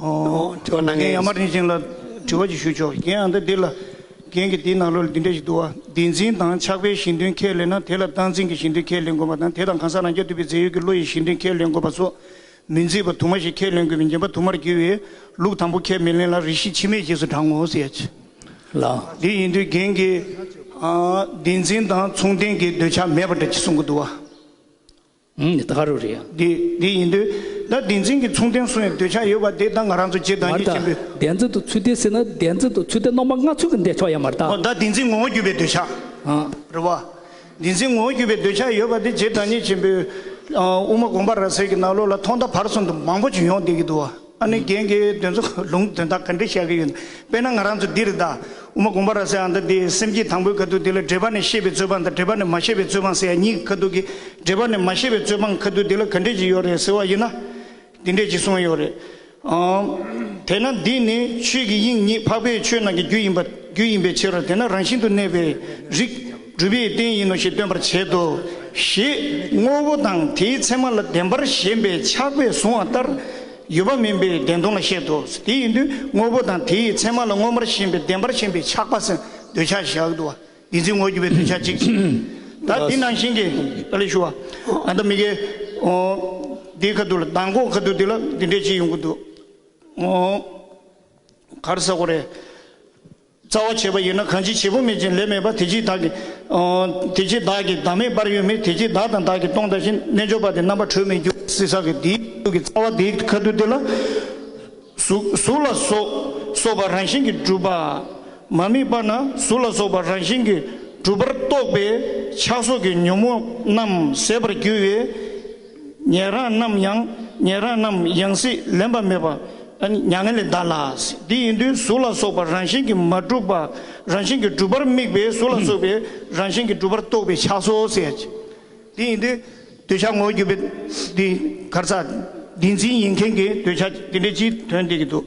དྲི་བ་གནང་མཁན་ཡང་མ་དྲན་ཞིང་ལ་དྲི་བ་ཅིག་ཞུ་ཆོག་གི་ཡང་འདི་འདི་ལ། རྒན་གྱིས་འདིའི་ནང་ལོ་ལ་འདི་འདྲ་ཞིག་འདུག་ཨ། འདི་འཛིན་དང་ཆགས་པའི་ཞེན་དོན་ཁས་ལེན་ན་དེ་ལ་སྟངས་འཛིན་གྱི་ཞེན་དོན་ཁས་ལེན་དགོས་པ་དང་དེ་དང་གང་ཟག་རང་རྐྱ་འདུས་པའི་རྫས་ཡོད་ཀྱི་བློ་ཡི་ཞེན་དོན་ཁས་ལེན་དགོས་པ་སོགས་མི་མཛེས་པ་དུ་མ་ཞིག་ཁས་ལེན་དགོས་པའི་འགྱེན་པ་དུ་མར་གྱུར་བས་ལུགས་དང་པོ་ཁས་མི་ལེན་ལ་རིགས་ཤེས་འཆི་མེད་ཞེས་སུ་བགྲང་ངོ། དེ་ཡིན་དུས་རྒན་གྱིས། འདི་འཛིན་དང་མཚུངས་ལྡན་གྱི་འདོད་ཆགས་མེད་པ་འདྲ་ཅིག་གསུང་གི་འདུག་ཨ། ད་ག་རུ་རེད། འདི་འདི་ཡིན་དུས། ད་བདེན་འཛིན་གྱི་མཚུངས་ལྡན་སུ་ཡང་འདོད་ཆགས་ཡོད་པ་དེ་ད་ང་རང་ཚོ་རྗེ་བདག་ཉིད་ཆེན་པོས། མར་ད་བདེན་འཛིན་དུ་ཚུལ་ལྡན་ཟེར་ན་བདེན་འཛིན་དུ་ཚུལ་ལྡན་སྣང་བ་ལྔ་ཚུལ་གྱི་འདས་ཆོག་ཡ་མར་ད། ད་བདེན་འཛིན་ངོ་བོ་བརྒྱུད་པའི་འདོད་ཆགས། རེད་བ། བདེན་འཛིན་ངོ་བོ་བརྒྱུད་པའི་འདོད་ཆགས་ཡོད་པ་དེ་རྗེ་བདག་ཉིད་ཆེན་པོས། དབུ་མ་དགོངས་པ་ར་བཟེར་གྱི་ནགས་ལོག་ལ་ཐོག་མཐའ་བར་གསུམ་དུ་མང་པོ་བྱོན་ཡོང་བསྡད་ཀྱི་འདུག་བ། ཨ་ནི་རྒན་གྱི་དོན་ཚོ་ལུང་དོན་དག་ག་འདྲས་བཤད་གི་ཡོད་དཔེ་ན་ང་རང་ཚོ་འདིར་གདའ་འོ་མ་གོང་པ་ར་ཟེ་ཨ་འདྲ་འདི་སེམས་ཀྱི་དང་པོའི་ཁ་ཐུག་དེ་ལ་འདྲེས་པ་ནས་ཤེས་པའི་རྩོད་སྤང་དང་འདྲེས་པ་ནས་མ་ཤེས་པའི་རྩོད་སྤང་ཟེར་ཡ་གཉིས་ཀྱི་ཁ་ཐུག་གི་འདྲེས་པ་ནས་མ་ཤེས་པའི་རྩོད་སྤང་ཁ་ཐུག་དེ་ལ་ག་འདྲས་ཅིག་ཡོད་རེད་ཟེར་བ་ཡིན་ན་འདི་འདྲས་ཅིག་གསུང་གི་ཡོད་རེད་ཨང། དེས་ན་འདི་ནི་ཆོས་ཀྱི་དབྱིངས་ཉིད་འཕགས་པའི་ཆོས་རྣམས་ཀྱི་རྒྱུ་ཡིན་པ་རྒྱུ་ཡིན་པའི་ཕྱིར་རོ་དེས་ན་རང་བཞིན་དུ་གནས་པའི་རིགས། སྒྲུབ་པའི་རྟེན་ཡིན་ནོ་ཞེས་སྟོན་པར་བྱེད་དོ། ཞེས་དངོས་པོ་དང་དེའི་མཚན་མ་ལ་བདེན་པར་ཞེན་པའི་ཆགས་པས་བཟུང་བ་ལྟར་ཡོད་པ་མིན་པའི་བདེན་སྟོང་ལ་བཤད་དོ། དེ་ཡིན་དུས་དངོས་པོ་དང་དེའི་མཚན་མ་ལ་མངོན་པར་ཞེན་པའི་བདེན་པར་ཞེན་པའི་ཆགས་པ་སེམས་འདོད་ཆགས་བཞག་ཏུ་བ་འདི་འཛིན་ངོར་གྱུར་པའི་འདོད་ཆགས་གཅིག་ཅིང། ད་འདི་ནང་བཞིན་གྱི་ཨ་ལས་ཞུ་བ། ཨ་ད་མི་གའི། འདིའི་ཁ་དུག་ལ་མདང་དགོང་ཁ་དུག་འདི་ལ་འདི་འདྲའི་ཅིག་ཡོང་གི་འདུག། གར་ས་གོ་རེ། རྩ་བ་བྱེད་པ་ཡིན་ན་གང་ཅི་བྱེད་པོ་མེད་ཅིང་ལས་མེད་པ་དེ་ཅིས་བདག་གིས། དེ་ཅིས་བདག་གིས་བདག་མེད་པར་ཡོད་མེད་དེ་ཅིས་བདག་དང་བདག་གིས་སྟོང་ལྟ་ཞིང་རྣལ་འབྱོར་པ་དེ་རྣམ་པར་གྲོལ་མེད་རྒྱུ་གཟིགས་ས་གི་དེའི་རྒྱུ་གི་རྩ་བ་དེའི་ཁ་དུ་དེ་ལ། གཟུགས་ལ་སོགས་པ་རང་བཞིན་གྱིས་གྲུབ་པ། མ་དམིགས་པ་ན་གཟུགས་ལ་སོགས་པ་རང་བཞིན་གྱིས་གྲུབ་པར་རྟོགས་པའི་ཆགས་སོགས་ཀྱི་ཉོན་མོངས་རྣམས་ཟད་པར་འགྱུར་བས། ཉན་རང་རྣམས་ཡང་ཉན་རང་རྣམས་ཡང་སྲིད་ལེན་པ་མེད་པ་མྱ་ངན་ལས་འདའ་ལ། དེ་ཡིན་དུས་གཟུགས་ལ་སོགས་པ་རང་བཞིན་གྱིས་མ་གྲུབ་པ་རང་བཞིན་གྱིས་གྲུབ་པར་དམིགས་པའི་གཟུགས་ལ་སོགས་པའི་རང་བཞིན་གྱིས་གྲུབ་པར་རྟོག་པའི་ཆགས་སོ། དེ་ཡིན་དུས་འདོད་ཆགས་ངོར་གྱུར་པའི་དེ་གར་ས་དེ་འཛིན་ཡིན་མཁན་གྱི་འདོད་ཆགས་དེ་འདྲའི་སྤྱིའི་དོན་བསྟན་གྱི་འདུག།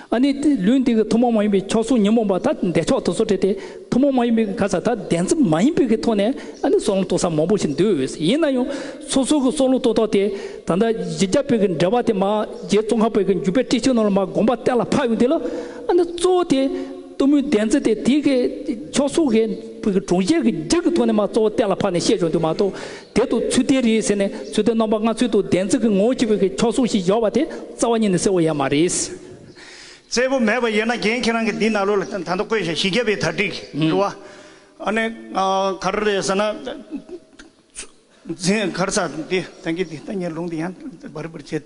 ཨ་ནི། ལུས་འདི་གི་ཐུན་མོང་མ་ཡིན་པའི་མཆོག་གཟུགས་ཉོན་མོངས་པ་དག་འདས་ཆོག་ཏུ་སོ་བྲལ་ཏེ། ཐུན་མོང་མ་ཡིན་པའི་གང་ཟག་དག་བདེན་ཚིག་མ་ཡིན་པའི་གི་ཐོག་ནས་ཨ་ནི་སྲོག་ལམ་རྟོགས་ས་མང་པོ་ཞིག་འདུས་འོས་ཡིན་ན་ཡང། སོ་སོ་གི་སྲོག་ལུས་རྟོགས་ཐོག་དེ་ད་ལྟ་རྗེ་རྒྱ་བོད་ཀྱི་འགྲེལ་པ་དེ་མ་རྗེ་ཙོང་ཁ་བོད་ཀྱི་འགྱུར་པའི་ཏྲི་ཆུ་ནང་ལ་མ་དགོངས་པ་གཏན་ལ་ཕབ་ཡོང་དེ་ལ་ཨ་ནི་གཙོ་བོ་དེ་གཏུམ་མོའི་བདེན་ཚིག་དེ་དེའི་གི་མཆོག་གཟུགས་གི་བོད་ཀྱི་གྲོང་ཁྱེར་གྱི་རྒྱུད་ཀྱི་ཐོག་ནས་མ་གཙོ་བོ་གཏན་ལ་ཕབ་ནས་བཤད་བྱུང་དུས་མ་གཏོགས་དེ་དུ་ཚུལ་ལྡན་རེད་ཟེར་ནས་ཚུལ་ལྡན་རྣམ་པ་ལྔ་ཚུལ་དུ་ལྡན་ཚིག་གི་ངོ་བོ་གཅིག་པའི་གི་ཕྱོགས་སྲུང་ཞིག་སྦྱོར་བ་དེ་རྩ་བ་ཉིད་ནས་གསལ་བོ་ཡང་མ་རེད། གསལ་བོ་མེད་པ་ཡོད་ན་རྒན་ཁྱེད་རང་གི་འདི་ནཱ་ལོ་ལ་ད་ལྟ་བཀོད་བཞིན་བཞི་བརྒྱ་པའི་དར་སྒྲིག་འགྲོ་བ་ཨ་ནི་ག་རེ་རེད་ཟེར་ན། འཛིན་གར་ས་འདི་ད་གི་འདི་ལྟ་ཉལ་ལུང་འདི་ཡང་འབར་འབར་བྱེད།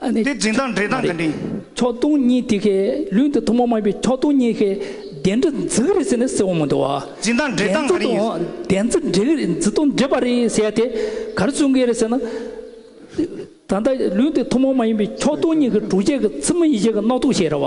ཨ་ནི། འདི་འབྲིང་དང་འབྲེལ་དང་འདི་འབྲིང། ཕྱོགས་སྟོང་གཉིས་དེ་ཁའི་ལུས་འདི་ཐུན་མོང་མ་ཡིན་པའི་ཕྱོགས་སྟོང་གཉིས་ཁའི་གདན་འདྲི་འཛི་ག་རེད་ཟེར་ནས་སེའུ་མོ་འདི་བ། འབྲིང་དང་འབྲེལ་དང་ག་རེ་ཡིན། གདན་འཛི་འདྲི་ག་རེད་འཛི་དང་འབྲེལ་བ་རེད་ཟེར་དེ་ག་རེ་གསུང་གི་རེད་ཟེར་ན། ད་ལྟ་ལུས་འདི་ཐུན་མོང་མ་ཡིན་པའི་ཕྱོགས་སྟོང་གཉིས་ཀའི་གྲུ་ཆད་ཀྱི་ཚི་མི་ཡི་གེ་གི་རྣག་ཐུག་ཞེས་ར་བ།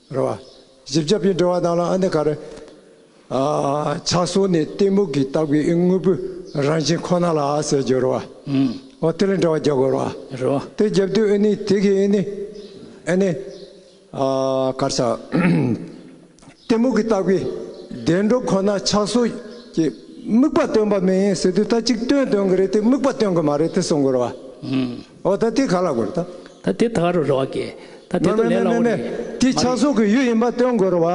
རེད། བཞི་བརྒྱ་པའི་འགྲོ་བ་དང་ལ་ཨ་ནི་ག་རེ། ཕྱག་སོར་ནི་གཏི་མུག་གི་ལྟ་བུའི་དངོས་པོའི་རང་བཞིན་ཁོ་ན་ལ་ཟེར་རྒྱུ་རེད། འོ་དེ་ལས་འགྲོ་བ་བརྒྱ་དགོས་རེད། དེ་བརྒྱབ་དུས་ཨེ་ནི་དེ་གིས་ཨེ་ནི། ཨེ་ནི། གར་ཆག། གཏི་མུག་གི་ལྟ་བུའི་བདེ་འགྲོ་ཁོ་ན་ཕྱག་སོར་གྱི་དམིགས་པ་སྟོན་པ་མིན་ཟེར་དུས་ད་ཅིག་སྟོན་སྟོན་གི་རེད་དེ་དམིགས་པ་སྟོན་གི་མ་རེད་དེ་གསུང་དགོས་རེད། ཨོ་ད་དེ་ག་ལ་དགོས་ད། ད་དེ་ད་ག་རུ་རེ་བ་དགེ། ད་དེ་ཏོ་ལེ་ལ་འོ་རེ། དེ་ཆགས་སོགས་ཀྱི་ཡུལ་ཡིན་པ་སྟོན་དགོས་རེ་བ།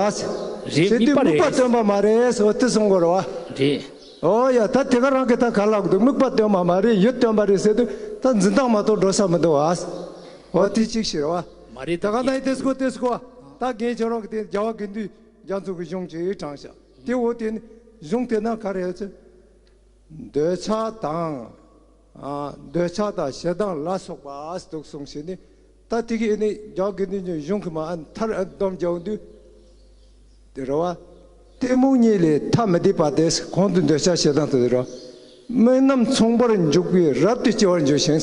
རེད་དེ་དམིགས་པ་སྟོན་པ་མ་རེད་ཨོ་དེ་སོང་གོ་རེ་བ། རེད། ཨོ་ཡ་ད་དེ་ག་རང་གི་ད་ག་ལ་དགོས་དམིགས་པ་སྟོན་པ་མ་རེད་ཡུལ་སྟོན་པ་རེད་ཟེར་དུས་ད་འཛིན་སྟངས་མ་གཏོགས་འགྲོ་ས་མི་འདུག་ཨ། ཨོ་དེ་གཅིག་ཤི་རེ་བ། མ་རེད་ད་ག་ནའི་དེ་སྐོ་དེ་སྐོ་ཨ་ད་རྒན་ཁྱེད་རང་གི་དེ་རྒྱ་བ་དགེ་འདུན་རྒྱ་མཚོ་གི་གཞུང་གཅིག་དྲངས་ཤག་དེ་འོ་དེ་ནི་གཞུང་དེ་ན་ག་རེ་ཨོ་ཚེ་འདོད་ཆགས་དང། འདོད་ཆགས་དང་ཞེ་སྡང་ལ་སོགས་པ་དུག་གསུམ་ཞེས་ནི། ད་ཏི་གིས་ནི་ལྗགས་ཀྱི་ནི་ནི་གཞུང་གི་མ་ཨ་མཐར་ཨ་སྡོམ་བརྒྱའོ་འདུས་ཏེ་རོ། གཏི་མུག་གཉིས་ལས་ཐ་མི་དད་པ་དེས་གོང་དུ་འདོད་ཆགས་ཞེ་སྡང་དུ་དེ་རོ། དམིགས་རྣམ་མཚུངས་པར་འཇུག་པས་རབ་ཏུ་སྐྱེ་བར་འགྱུར་ཞིང།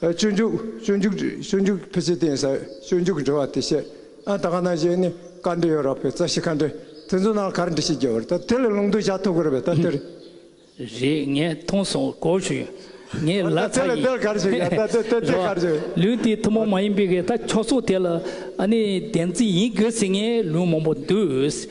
སྤྱོད་འཇུག་སྤྱོད་འཇུག་སྤྱོད་འཇུག་ཕལ་ཆེར་བསྟན་ས་སྤྱོད་འཇུག་འབྲི་བ་དེ་བཤད་ཨ་ད་ག་ན་བཞེད་ནི་བཀའ་འདྲི་ཡོད་རག་པའི་རྩ་ཤེ་ཁ་འདྲི་དེ་ཚོ་ནང་གར་འདྲི་ཤེས་རྒྱ་བར་ད་དེ་ལས་ལུང་དུ་བྱ་ཐུབ་གི་རེད་པས་ད་དེར། རེད་ངས་མཐོང་སོང་གོ་ཞུ་ངས་ལ་ད་ཚ་དེ་ལས་ཡིན་དེར་གར་བྱེད་གི་ད་དེ་དེ་དེ་གར་བྱེད་གི། ལུས་དེ་ཐུན་མོང་མ་ཡིན་པའི་གི་ད་ཁྱོ་སོ་དེ་ལ་ཨ་ནི་བདེན་རྩི་ཡིན་དགོས་ཟེར་ངའི་ལུང་མང་པོ་འདུག།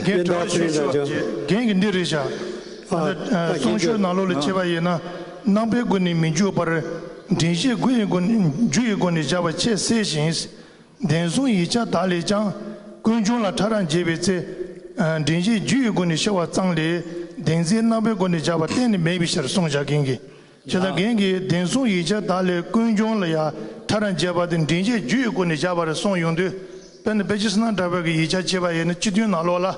རྒན་གྲོ་ལོད་ཤུར་ཤུར་བ་རྒན་གྱིས་འདི་རེ་བཞག་ཨ་ནི་གསུང་ཤོད་ནག་ལོ་ལ་ཁྱེར་བ་ཡིན་ན་ནང་པའི་སྒོ་ནས་མི་འཇུག་པར་འདྲེན་བཤད་དགུ་ཡི་སྒོ་ནས་རྒྱུ་ཡི་སྒོ་ནས་བཞག་པ་ཆེས་གསལ་ཞིང་བདེན་གསུང་ཡིག་ཆ་དག་ལས་ཀྱང་ཀུན་འབྱུང་ལ་ཕྲ་རགས་འབྱེད་པའི་ཚེ་འདྲེན་བཤད་རྒྱུ་ཡི་སྒོ་ནས་ཤོད་བ་ཙམ་ལས་བདེན་ཚིག་ནང་པའི་སྒོ་ནས་བཞག་པ་གཏན་ནས་མེད་པའི་ཕྱིར་གསུང་བཞག་མཁན་གྱི་ཇི་ལྟར་རྒན་གྱིས་བདེན་གསུང་ཡིག་ཆ་དག་ལས་ཀུན་འབྱུང་ལ་ཡང་ཐ་རངས་བྱས་པ་དེ་མགྲིན་གཅིག་རྒྱུད་ཡི་གུ་ནས་བཞག་པ་རེད་གསུངས་ཡོང་དུས་དཔེར་ན་པེ་ཅི་སི་ནང་དྲ་བས་ཀྱི་ཡིག་ཆ་ཅེས་པ་ཡེ་ནས་སྤྱི་མཐུན་ནང་ལོགས་ལ།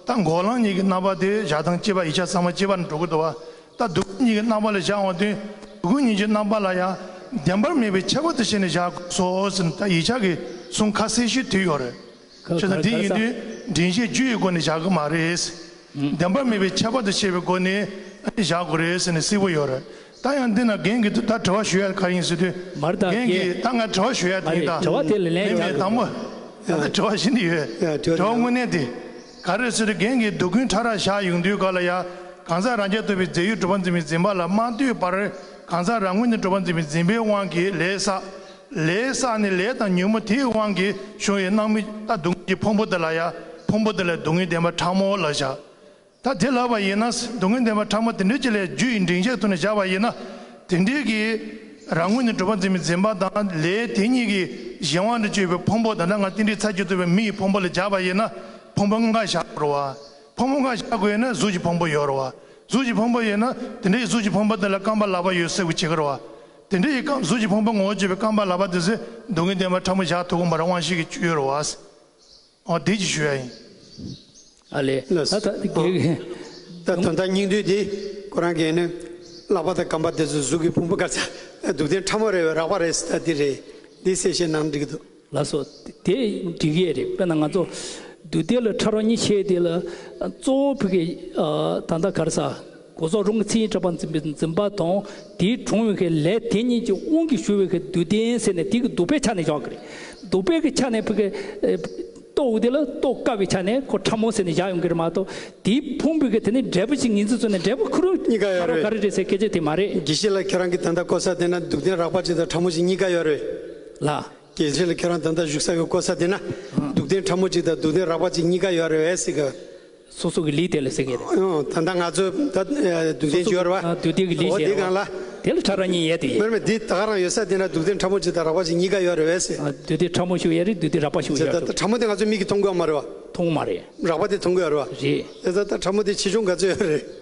ད་འགོག་ལངས་གཉིས་ཀྱི་རྣམ་པ་དེ་བཞག་སྟངས་སྤྱི་པ་ཡིག་ཆ་ཚང་མ་སྤྱི་པར་འགྲོ་གི་འདུག་བ་ད་སྡུག་རྒུ་གཉིས་ཀྱི་རྣམ་པ་ལ་བཞག་འོང་དུས་སྡུག་རྒུ་གཉིས་ཀྱི་རྣམ་པ་ལ་ཡང་བདེན་པར་མེད་པའི་ཁྱད་པར་དུ་བྱས་ནས་བཞག་དགོས་སོ་ཟེར་ནས་ད་ཡིག་ཆ་གི་གསུང་ཁ་གསལ་ཞིག་དུས་ཡོད་རེད། ཁྱོད་ལ་དེ་ཡིན་དུས་དྲིན་ཤེས་རྒྱུ་ཡི་སྒོ་ནས་བཞག་གི་མ་རེད། བདེན་པ་མེད་པའི་ཁྱད་པར་དུ་བྱས་པའི་སྒོ་ནས་བཞག་དགོས་རེད་ཟེར་ནས་བསིལ་བོ་ཡོད་རེད། ད་ཡང་འདི་ན་རྒན་གྱིས་ད་དྲི་བ་ཞུ་ཡ་ག་ཡིན་ཟེར་དུས། རྒན་གྱིས་ད་ང་དྲི་བ་ཞུ་ཡ་དེ་ཡིན་ད། མི་མེད་དང་པོ། ད་དྲི་བ་ཞི་འདི་ཡོད། དྲི་བ་དངོས་གནས་དེ་ག་རེད་ཟེར་དུས་རྒན་གྱིས་སྡུག་ཀུན་ཕྲ་རགས་བཞག་ཡོང་དུས་ག་ལ་ཡ། གང་ཟག་རང་རྐྱ་བཏོད་པའི་རྫས་ཡོད་གྲུབ་པ་འཛིན་པའི་འཛིན་པ་ལ་མ་ལྟོས་པར་གང་ཟག་རང་ངོས་ནས་གྲུབ་པ་འཛིན་པའི་འཛིན་པའི་དབང་གིས་ལས་བསགས། ལས་ས་ནི་ལས་དང་ཉུལ་མོ་དེའི་དབང་གིས་བྱུང་བའི་སྣང་མི་རྟག་སྡུག་བསྔལ་གྱི་ཕུང་པོ་དེ་ལ་ཡང་ཕུང་པོ་དེ་ལས་སྡུག་བསྔལ་བདེན་པ་ཕྲ་མོ་ལ་བཞག། ད་དེ་ལགས་པ་ཡིན་ན་སྡུག་བསྔལ་བདེན་པ་ཕྲ་མོ་དེ་འདྲའི་ཅི་ལས་རྒྱུ་ཡི་འབྲིང་བཅས་ཐུག་ནས་བཞག་པ་ཡིན་ན་དེ་འདྲའི་གིས་རང་ངོས་ནས་གྲུབ་པ་འཛིན་མི་འཛིན་པ་དང་ལས་དེ་གཉིས་ཀྱིས་གཞན་དབང་དུ་སྤྱོད་པའི་ཕུང་པོ་ད་ལྟ་ང་གཏན་བྲིས་ཚར་གྱི་བཏུབ་པའི་མི་ཡི་ཕུང་པོ་ལ་བཞག་པ་ཡིན་ན་ཕུང་པོ་འགའ་བཞག་དགོས་རུང་བ། ཕུང་པོ་འགའ་བཞག་དགོས་ན་གཟུགས་ཀྱི་ཕུང་པོ་ཡོད་རུང་བ། གཟུགས་ཀྱི་ཕུང་པོ་ཡོད་ན་དེ་འདྲའི་གཟུགས་ཀྱི་ཕུང་པོ་དེ་ལ་རྐང་པ་ལག་པ་ཡོད་སྲིད་དགོས་ཇི་དགར་བ། དེ་འདྲ་ཡི་སྐབས་གཟུགས་ཀྱི་ཕུང་པོ་ངོ་བོ་བརྗོད་པའི་རྐང་པ་ལག་པ་འདི་ཚེ་སྡུག་གི་བདེན་པ་ཕྲ་མོ་བཞག་ཐུགས་དགོངས་པ་རང་དབང་ཤིག་གི་བཅུད་ཡོད་རུ་བ། འོ་བདེ་སྐྱིད་ཞུ་ཡ་ཡིན། ཨ་ལས། ན་ཟུག་ཨོ། ད་དོན་དག་སྙིང་བསྡུས་འདི་ཁོ་རང་གིས་ནི། ལག་པ་དང་རྐང་པ་འདི་ཚོ་གཟུགས་ཀྱི་ཕུང་པོ་སྐར་ཆ་སྡུག་བདེན་ཕྲ་མོ་རེད་བའི་རགས་པ་རེད་ཟེར་ད་འདི་རེད་འདི་ཟེར་བཤད་ནའང་འགྲིག་གི་འདུག། ལ་སོགས་དེ་འཇིག་ཡེ་རེད་དཔེར་ན་ང་ཚོ་འདུས་སྡེ་ལ་ཕྲ་རོ་གཉིས་ཆེ་དེ་ལ་གཙོ་བོ་ཕི་གེ་ད་ལྟ་གར་ས་གོ་ཟོ་རུང་གི་ཚེ་ཡི་གྲགས་པ་འཛིན་པའི་འཛིན་པ་དང་དེའི་དྲུང་བའི་གི་ལས་དེ་གཉིས་ཀྱི་དབང་གིས་ཞུ་བའི་གི་འདུས་སྡེ་ཡིན་ཟེར་ནས་དེ་གི་འདུས་པའི་ཆ་ནས་བཞག་གི་རེད་འདུས་པའི་གི་ཆ་ནས་ཕི་གེ་རྟོགས་དེ་ལ་རྟོགས་དཀའ་བའི་ཆ་ནས་ཁོ་ཕྲ་མོ་ཟེར་ནས་བཞག་ཡོང་གི་རེད་མ་གཏོགས་དེའི་ཕུང་པོའི་གི་དེ་ནི་འབྲས་བུ་ཅིག་ངེས་འཛིན་བཟོ་ནས་འབྲས་བུ་ཁུ་རུ་གཉིས་ཀ་ཕྲ་ཡོད་རོ་ག་རེ་རེད་རེད་ཟེར་སྐད་ཆ་དེ་མ་རེད། དགེ་བཤེས་ལགས་ཁྱེད་རང་གི་ད་ལྟ་གོ་ས་དེ་ན་འདུག་སྡེ་རགས་པ་ཅིག་དང་ཕྲ་མོ་ཅིག་གཉིས་ཀ་ཡོད་རེད། ལ། གལ་ཆེན་ལ་ཁྱོད་རང་ད་ལྟ་བཞུགས་ས་ཡོད་དགོས་ས་དེ་ན་སྡུག་བདེན་ཕྲ་མོ་གཅིག་དང་སྡུག་བདེན་རགས་པ་གཅིག་གཉིས་ཀ་ཡོད་རེད་བས་སྲིད་གི། སོ་སོ་གི་ལུས་དེ་ལ་སྲིད་གི་རེད། ད་ལྟ་ང་ཚོས་ད་སྡུག་བདེན་བརྗོད་རེད་བ། སྡུག་བདེན་གི་ལུས་ཞེས་རེད་བ། དེ་ལ་ཕྲ་རགས་གཉིས་ཡོད་དེ་ཡིན། མེད་མེད་འདི་ད་ག་རང་ཡོད་ས་དེ་ན་སྡུག་བདེན་ཕྲ་མོ་གཅིག་དང་རགས་པ་གཅིག་གཉིས་ཀ་ཡོད་རེད་བས་སྲིད། སྡུག་བདེན་ཕྲ་མོ་ཞིག་ཡོད་རེད་སྡུག་བདེན་རགས་པ་ཞིག་ཡོད་རེད། ཕྲ་མོ་དེ་ང་ཚོས་མིག་གིས་མཐོང་དགོས་ཡ་མ་རེད་བ། མཐོང་གི་མ་རེད། རགས་པ་དེ་མཐོང་གི་ཡོད་རེད་བ། རེད། ད་ལྟ་ཕྲ་མོ་དེ་ཆེ་ཆུང་ག་ཚོད་ཡོད་རེད།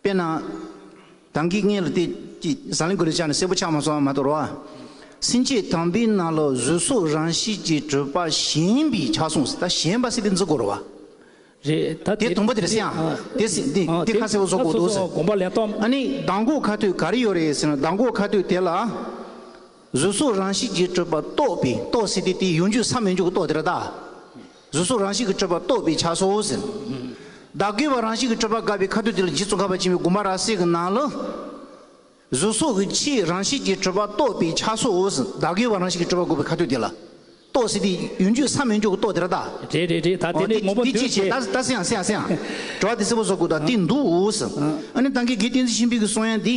དཔེར་ན། དང་གིས་ངན་ལ་བལྟས་ཀྱི། ཟ་ལན་གོས་ལ་བཅགས་ནས་སེར་པོ་ཆགས་མ་སོང་བ་མ་དོར་བ། སྲིན་བཅས་དམ་པའི་རྣ་ལོག་གཟུགས་སོགས་རང་བཞིན་གྱི་སྤྲུལ་པ་གཞན་པའི་ཕྱག་ཟུང་ཟིན་ད་གཞན་པ་སྲིད་པའི་མཛུབ་བསྐོར་བ། རེད་ད་དེ་དུམ་བུ་དེར་སྲིད་ཨང། དེ་སྲིད་དེ་ཁ་སེར་བོ་སོགས་བསྐོར་འདུག་ཟེར། དགོངས་པ་ལན་སྟོང། ཨ་ནི་ཟླ་འགོག་ཁ་ཐུད་ག་རེ་ཡོད་རེད་ཟེར་ན་ཟླ་འགོག་ཁ་ཐུད་དེ་ལ། གཟུགས་སོགས་རང་བཞིན་གྱི་སྤྲུལ་པ་རྟོགས་པས་རྟོགས་ཟིན་ཏེ་དེ་ཡོང་རྒྱུའི་ས་མི་འཇུག་གི་རྟོགས་དེ་ར་ད། གཟུགས་སོགས་རང་བཞིན་གྱི་སྤྲོས་པ་རྟོགས་པས་ཆགས་སོ་ཟེར། བདག་གི་བ་རང་བཞིན་གྱི་སྤྲོས་པ་དགག་པའི་ཁ་དོག་དེ་ལ་རྗེ་བཙུན་ཁ་བ་ཆེན་པོའི་མགུར་མ་ར་བསྲེག་གི་ནང་ལ། གཟུགས་སོགས་ཀྱི་ཕྱི་རང་བཞིན་གྱི་སྤྲོས་པ་རྟོགས་པས་ཆགས་སོ་ཟེར། བདག་གི་བ་རང་བཞིན་གྱི་སྤྲོས་པ་དགག་པའི་ཁ་དོད་དེ་ལ། རྟོགས་ཟེར་ཏེ། ཡུན་རྒྱུད་སམ་ཡུན་འཇོག་གི་རྟོགས་དེ་ར་ད། རེད་རེད་རེད་ད་དེ་ནས་ངོ་བོ་འདོད་ཅེས། ད་ད་སེང་ཡང་སེང་ཡང་སེང་ཡང། དྲོ་བ་དེ་སེར་པོ་སོགས་ཀུན་དང་བསྟེན་འདུག་ཟེར། ཨ་ནི་ད་གེ་གེ་བསྟེན་ཚེ་ཤིང་བུ་གི་གསོན་ཡང་འདི།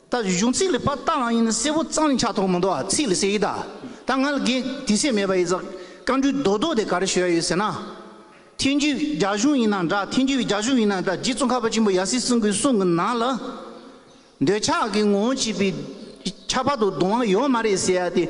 ད་གཞུང་ཚིག་ལས་པ་རྟགས་ལའང་ཡིན་གསལ་བོ་གཙང་ལས་ཆགས་ཐོགས་མི་འདུག་ཨ་ཚིག་ལས་གསལ་ཡིད་ད་ད་ང་ལ་དགེ་དེ་སེམས་མེད་པ་ཡིན་ཟེར་བཀའ་འགྲུལ་རྡོག་རྡོག་དེ་ག་རེ་ཞུ་ཡ་ཡོད་ཟེར་ན། ཐེན་ཇུས་རྒྱ་གཞུང་ཡིན་ན་འདྲ་ཐེན་ཇུས་རྒྱ་གཞུང་ཡིན་ན་འདྲ་རྗེ་བཙུན་ཁ་བ་ཆེན་པོ་ཡ་སི་སྲིན་གུས་གསུང་གི་ནང་ལ། འདོད་ཆགས་ཀྱི་ངོ་བོ་བྱས་པའི་ཁྱད་པར་དུ་གདུང་བ་ཡོད་མ་རེད་ཟེར་ཡ་དེ།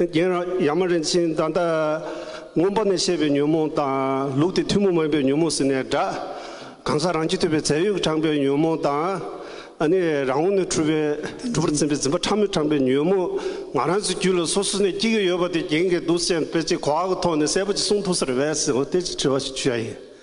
རྒན་རབས་ཡག་མ་རིན་ཆེན་ད་ལྟ་རྔོན་པ་ནས་བཤད་པའི་ཉོན་མོངས་དང་ལུགས་དེ་ཐུན་མོང་མ་ཡིན་པའི་ཉོན་མོངས་ཟེར་ནས་སྒྲ་གང་ཟག་རང་རྒྱུད་ཐོས་པའི་རྫས་ཡོད་ཀྱི་དྲངས་པའི་ཉོན་མོངས་དང། ཨ་ནི་རང་ངོ་ནས་འཁྲུལ་པའི་འཁྲུལ་པར་འཛིན་པའི་འཛིན་པ་ཕྲ་མོས་དྲངས་པའི་ཉོན་མོངས་ང་རང་ཚོའི་རྒྱུད་ལ་སོ་སོ་ནས་སྐྱེ་གི་ཡོད་པ་དེ་རྒྱན་གྱི་གདུགས་ཅན་དཔེ་ཅི་གོ་བ་གི་ཐོག་ནས་གསལ་པོ་ཅིག་གསུང་ཐུབ་ས་རེ་བས་སོ་དེ་ཅིག་དྲི་བ་ཞིག་ཞུ་ཡ་ཡིན།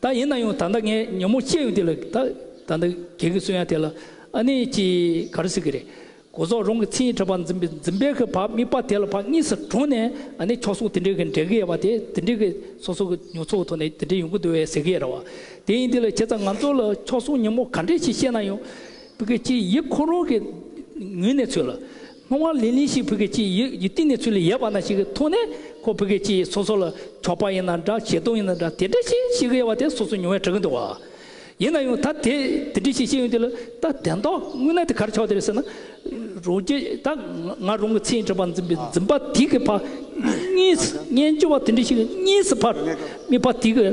ད་ཡིན་ན་ཡང་ད་ལྟ་ངས་ཉོན་མོངས་སྐྱེས་ཡོང་དུས་ལ་ད་ད་ནི་གལ་གི་སུ་ཡང་དེ་ལ་ཨ་ནི་ཅི་ག་རེ་ཟེར་གི་རེད། གོ་ཟོག་རང་གི་མཚན་ཉིད་ཕྲ་བ་འཛིན་པའི་འཛིན་པའི་གི་བག་དམིགས་པ་དེ་ལ་བག་གཉིས་སུ་གྲོངས་ནས་ཨ་ནི་ཁྱོ་སོགས་དེ་འདྲའི་གི་འབྲལ་གི་ཡོད་པ་དེ་དེ་འདྲའི་གི་སོ་སོ་གི་ཉོ་ཚོགས་ཐོག་ནས་དེ་འདྲའི་ཡོང་གི་འདུག་བས་ཟེར་གི་ཡོད་རེད་བ། དེ་ཡིན་དུས་ལ་བྱས་ཙང་ང་ཚོ་ལ་ཁྱོ་སོགས་ཉོན་མོངས་ག་འདྲས་ཞིག་བཤད་ན་ཡང། བུ་གི་ཅི་ཡིད་ཁོ་རང་གི་ངུས་ནས་ཚོད་ལ། སྔོན་མ་ལི་ལི་ཞིག་བོད་སྐད་ཅིག་ཡིག་གཏིང་ནས་ཚུར་ལས་ཡལ་བ་ན་ཞིག་ཐོན་ནས་ཁོ་བོད་སྐད་ཅིག་སོ་སོ་ལ་གྲོགས་པ་ཡིན་ན་འདྲ་ཞེ་གདོང་ཡིན་ན་འདྲ་དེ་འདྲ་ཞིག་ཤེས་གི་ཡོད་པ་དེ་སོ་སོ་མྱོང་བས་གྲག་གི་འདུག་བ། ཡིན་ན་ཡང་ད་དེ་དེ་འདྲ་ཞིག་ཤེས་ཡོང་དུས་ལ་ད་དེ་འདྲ་དངོས་གནས་དེ་གར་ཆགས་དེར་ཟེར་ན། རོང་རྒྱ་ད་ང་རོང་གི་ཚེ་འདྲེན་པ་འཛིན་པའི་འཛིན་པ་དེ་གི་ཕ། གཉིས་སུ་གཉེན་སྤྱོད་པ་དེ་འདྲ་ཞིག་གཉིས་སུ་ཕ། མི་ཕ་དེ་གི།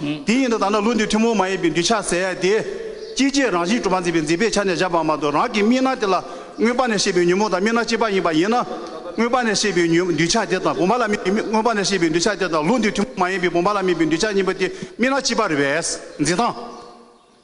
དེ་ཡིན་ན་ད་ནི་ཀླུ་འདི་ཐུན་མོང་མ་ཡིན་པའི་འདུས་བྱ་ཟད་དེ། སྐྱེ་མཆེད་རང་བཞིན་གྲུབ་པ་འཛིན་པའི་འཛིན་པའི་ཆ་ནས་བཞག་པ་མ་གཏོགས་རང་གི་སྨིན་སྣང་དེ་ལ་མངོན་པ་ནས་ཤེས་པའི་ཉོན་མོངས་དང་སྨིན་སྣང་གཅིག་པ་ཡིན་པ་ཡིན་ན། མངོན་པ་ནས་ཤེས་པའི་ཉོན་འདུས་བྱ་དེ་དང་བུམ་པ་ལ་དམིགས་པའི་མངོན་པ་ནས་ཤེས་པའི་འདུས་བྱ་དེ་དང་ཀླུ་འདི་ཐུན་མོང་མ་ཡིན་པའི་བུམ་པ་ལ་དམིགས་པའི་འདུས་བྱ་གཉིས་པོ་དེ་སྨིན་སྣང་གཅིག་པར་བས་འཛིན་སྟངས།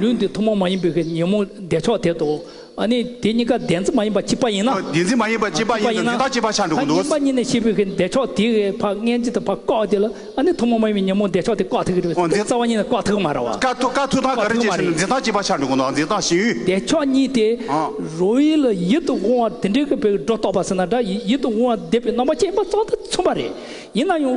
ལུས་འདི་ཐུན་མོང་མ་ཡིན་པའི་གི་ཉོན་མོངས་བདེ་མཆོག་དེ་དོ། ནི་དེ་གཉིས་ཀ་བདེན་འཛིན་མ་ཡིན་པ་གཅིག་པ་ཡིན་ན། བདེན་འཛིན་མ་ཡིན་པ་གཅིག་པ་ཡིན་ནོ་འདི་དག་གཅིག་པ་ཆགས་འགྲོ་གི་འདུག། བདེན་པ་གཉིས་ནི་ཤེས་པའི་གི་བདེ་མཆོག་དེ་གི་བར་ངན་ཅིག་ཏུ་བར་བཀག་དེ་ལ། ནི་ཐུན་མོང་མ་ཡིན་པའི་ཉོན་མོངས་བདེ་མཆོག་དེ་བཀག་ཐུག་གི་རེད། རྩ་བ་གཉིས་ནི་བཀག་ཐུག་གི་མ་རེད་བ། བཀག་ཐུག་བཀག་ཐུག་དང་ག་རེ་བྱེད་ཚུལ་ནི་འདི་དག་གཅིག་པ་ཆགས་འགྲོ་གི་འདུག་འདི་དག་ཞི་ཡུལ། བདེ་མཆོག་གཉིས་དེ། རོ་ཡིད་ལ་ཡིད་དུ་འོང་བ་དེ་འདྲའི་གི་བའི་སྒྲོ་རྟོག་པ་ཟེར་ན་འདྲ་ཡིད་དུ་འོང་བ་བདེ་བའི་རྣམ་པ་ཅན་པ་ཙམ་དུ་མཚོན་པ་རེད། ཡིན་ན་ཡང།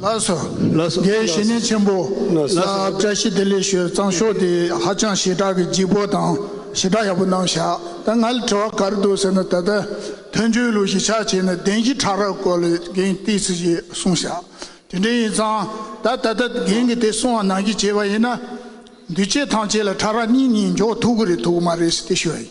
ལ་སོགས་དགེ་བཤེས་གཉེན་ཆེན་པོ་ལ་བཀྲ་ཤིས་བདེ་ལེགས་ཞུ་གཙང་ཤོག་དེ་ཧ་ཅང་ཞེ་དྲག་གི་སྦྱིག་པོ་དང་ཞེ་དྲག་ཡག་པོ་གནང་བཞག་ད་ང་ལ་དྲི་བ་གར་འདུག་ཟེར་ན་ད་ལྟ་དོན་གཅོད་ལུགས་ཞིག་ཆགས་བྱས་ན་བདེན་བཞི་ཕྲག་རག་སྐོར་ལས་འགན་ཏིག་ཚིག་ཅིག་གསུང་བཞག་དེ་འདྲའི་ཡིན་ཙང་ད་ད་ལྟ་འགན་གི་དེ་གསུང་བ་ནང་གི་བྱས་པ་ཡིན་ན་འདུས་བྱས་ཐམས་ཅད་ལ་ཕྲག་རག་གཉིས་གཉིས་འཇོག་ཐུག་གི་རེད་ཐུག་གི་མ་རེད་ཟེར་ཏེ་ཞུ་བ་ཡིན།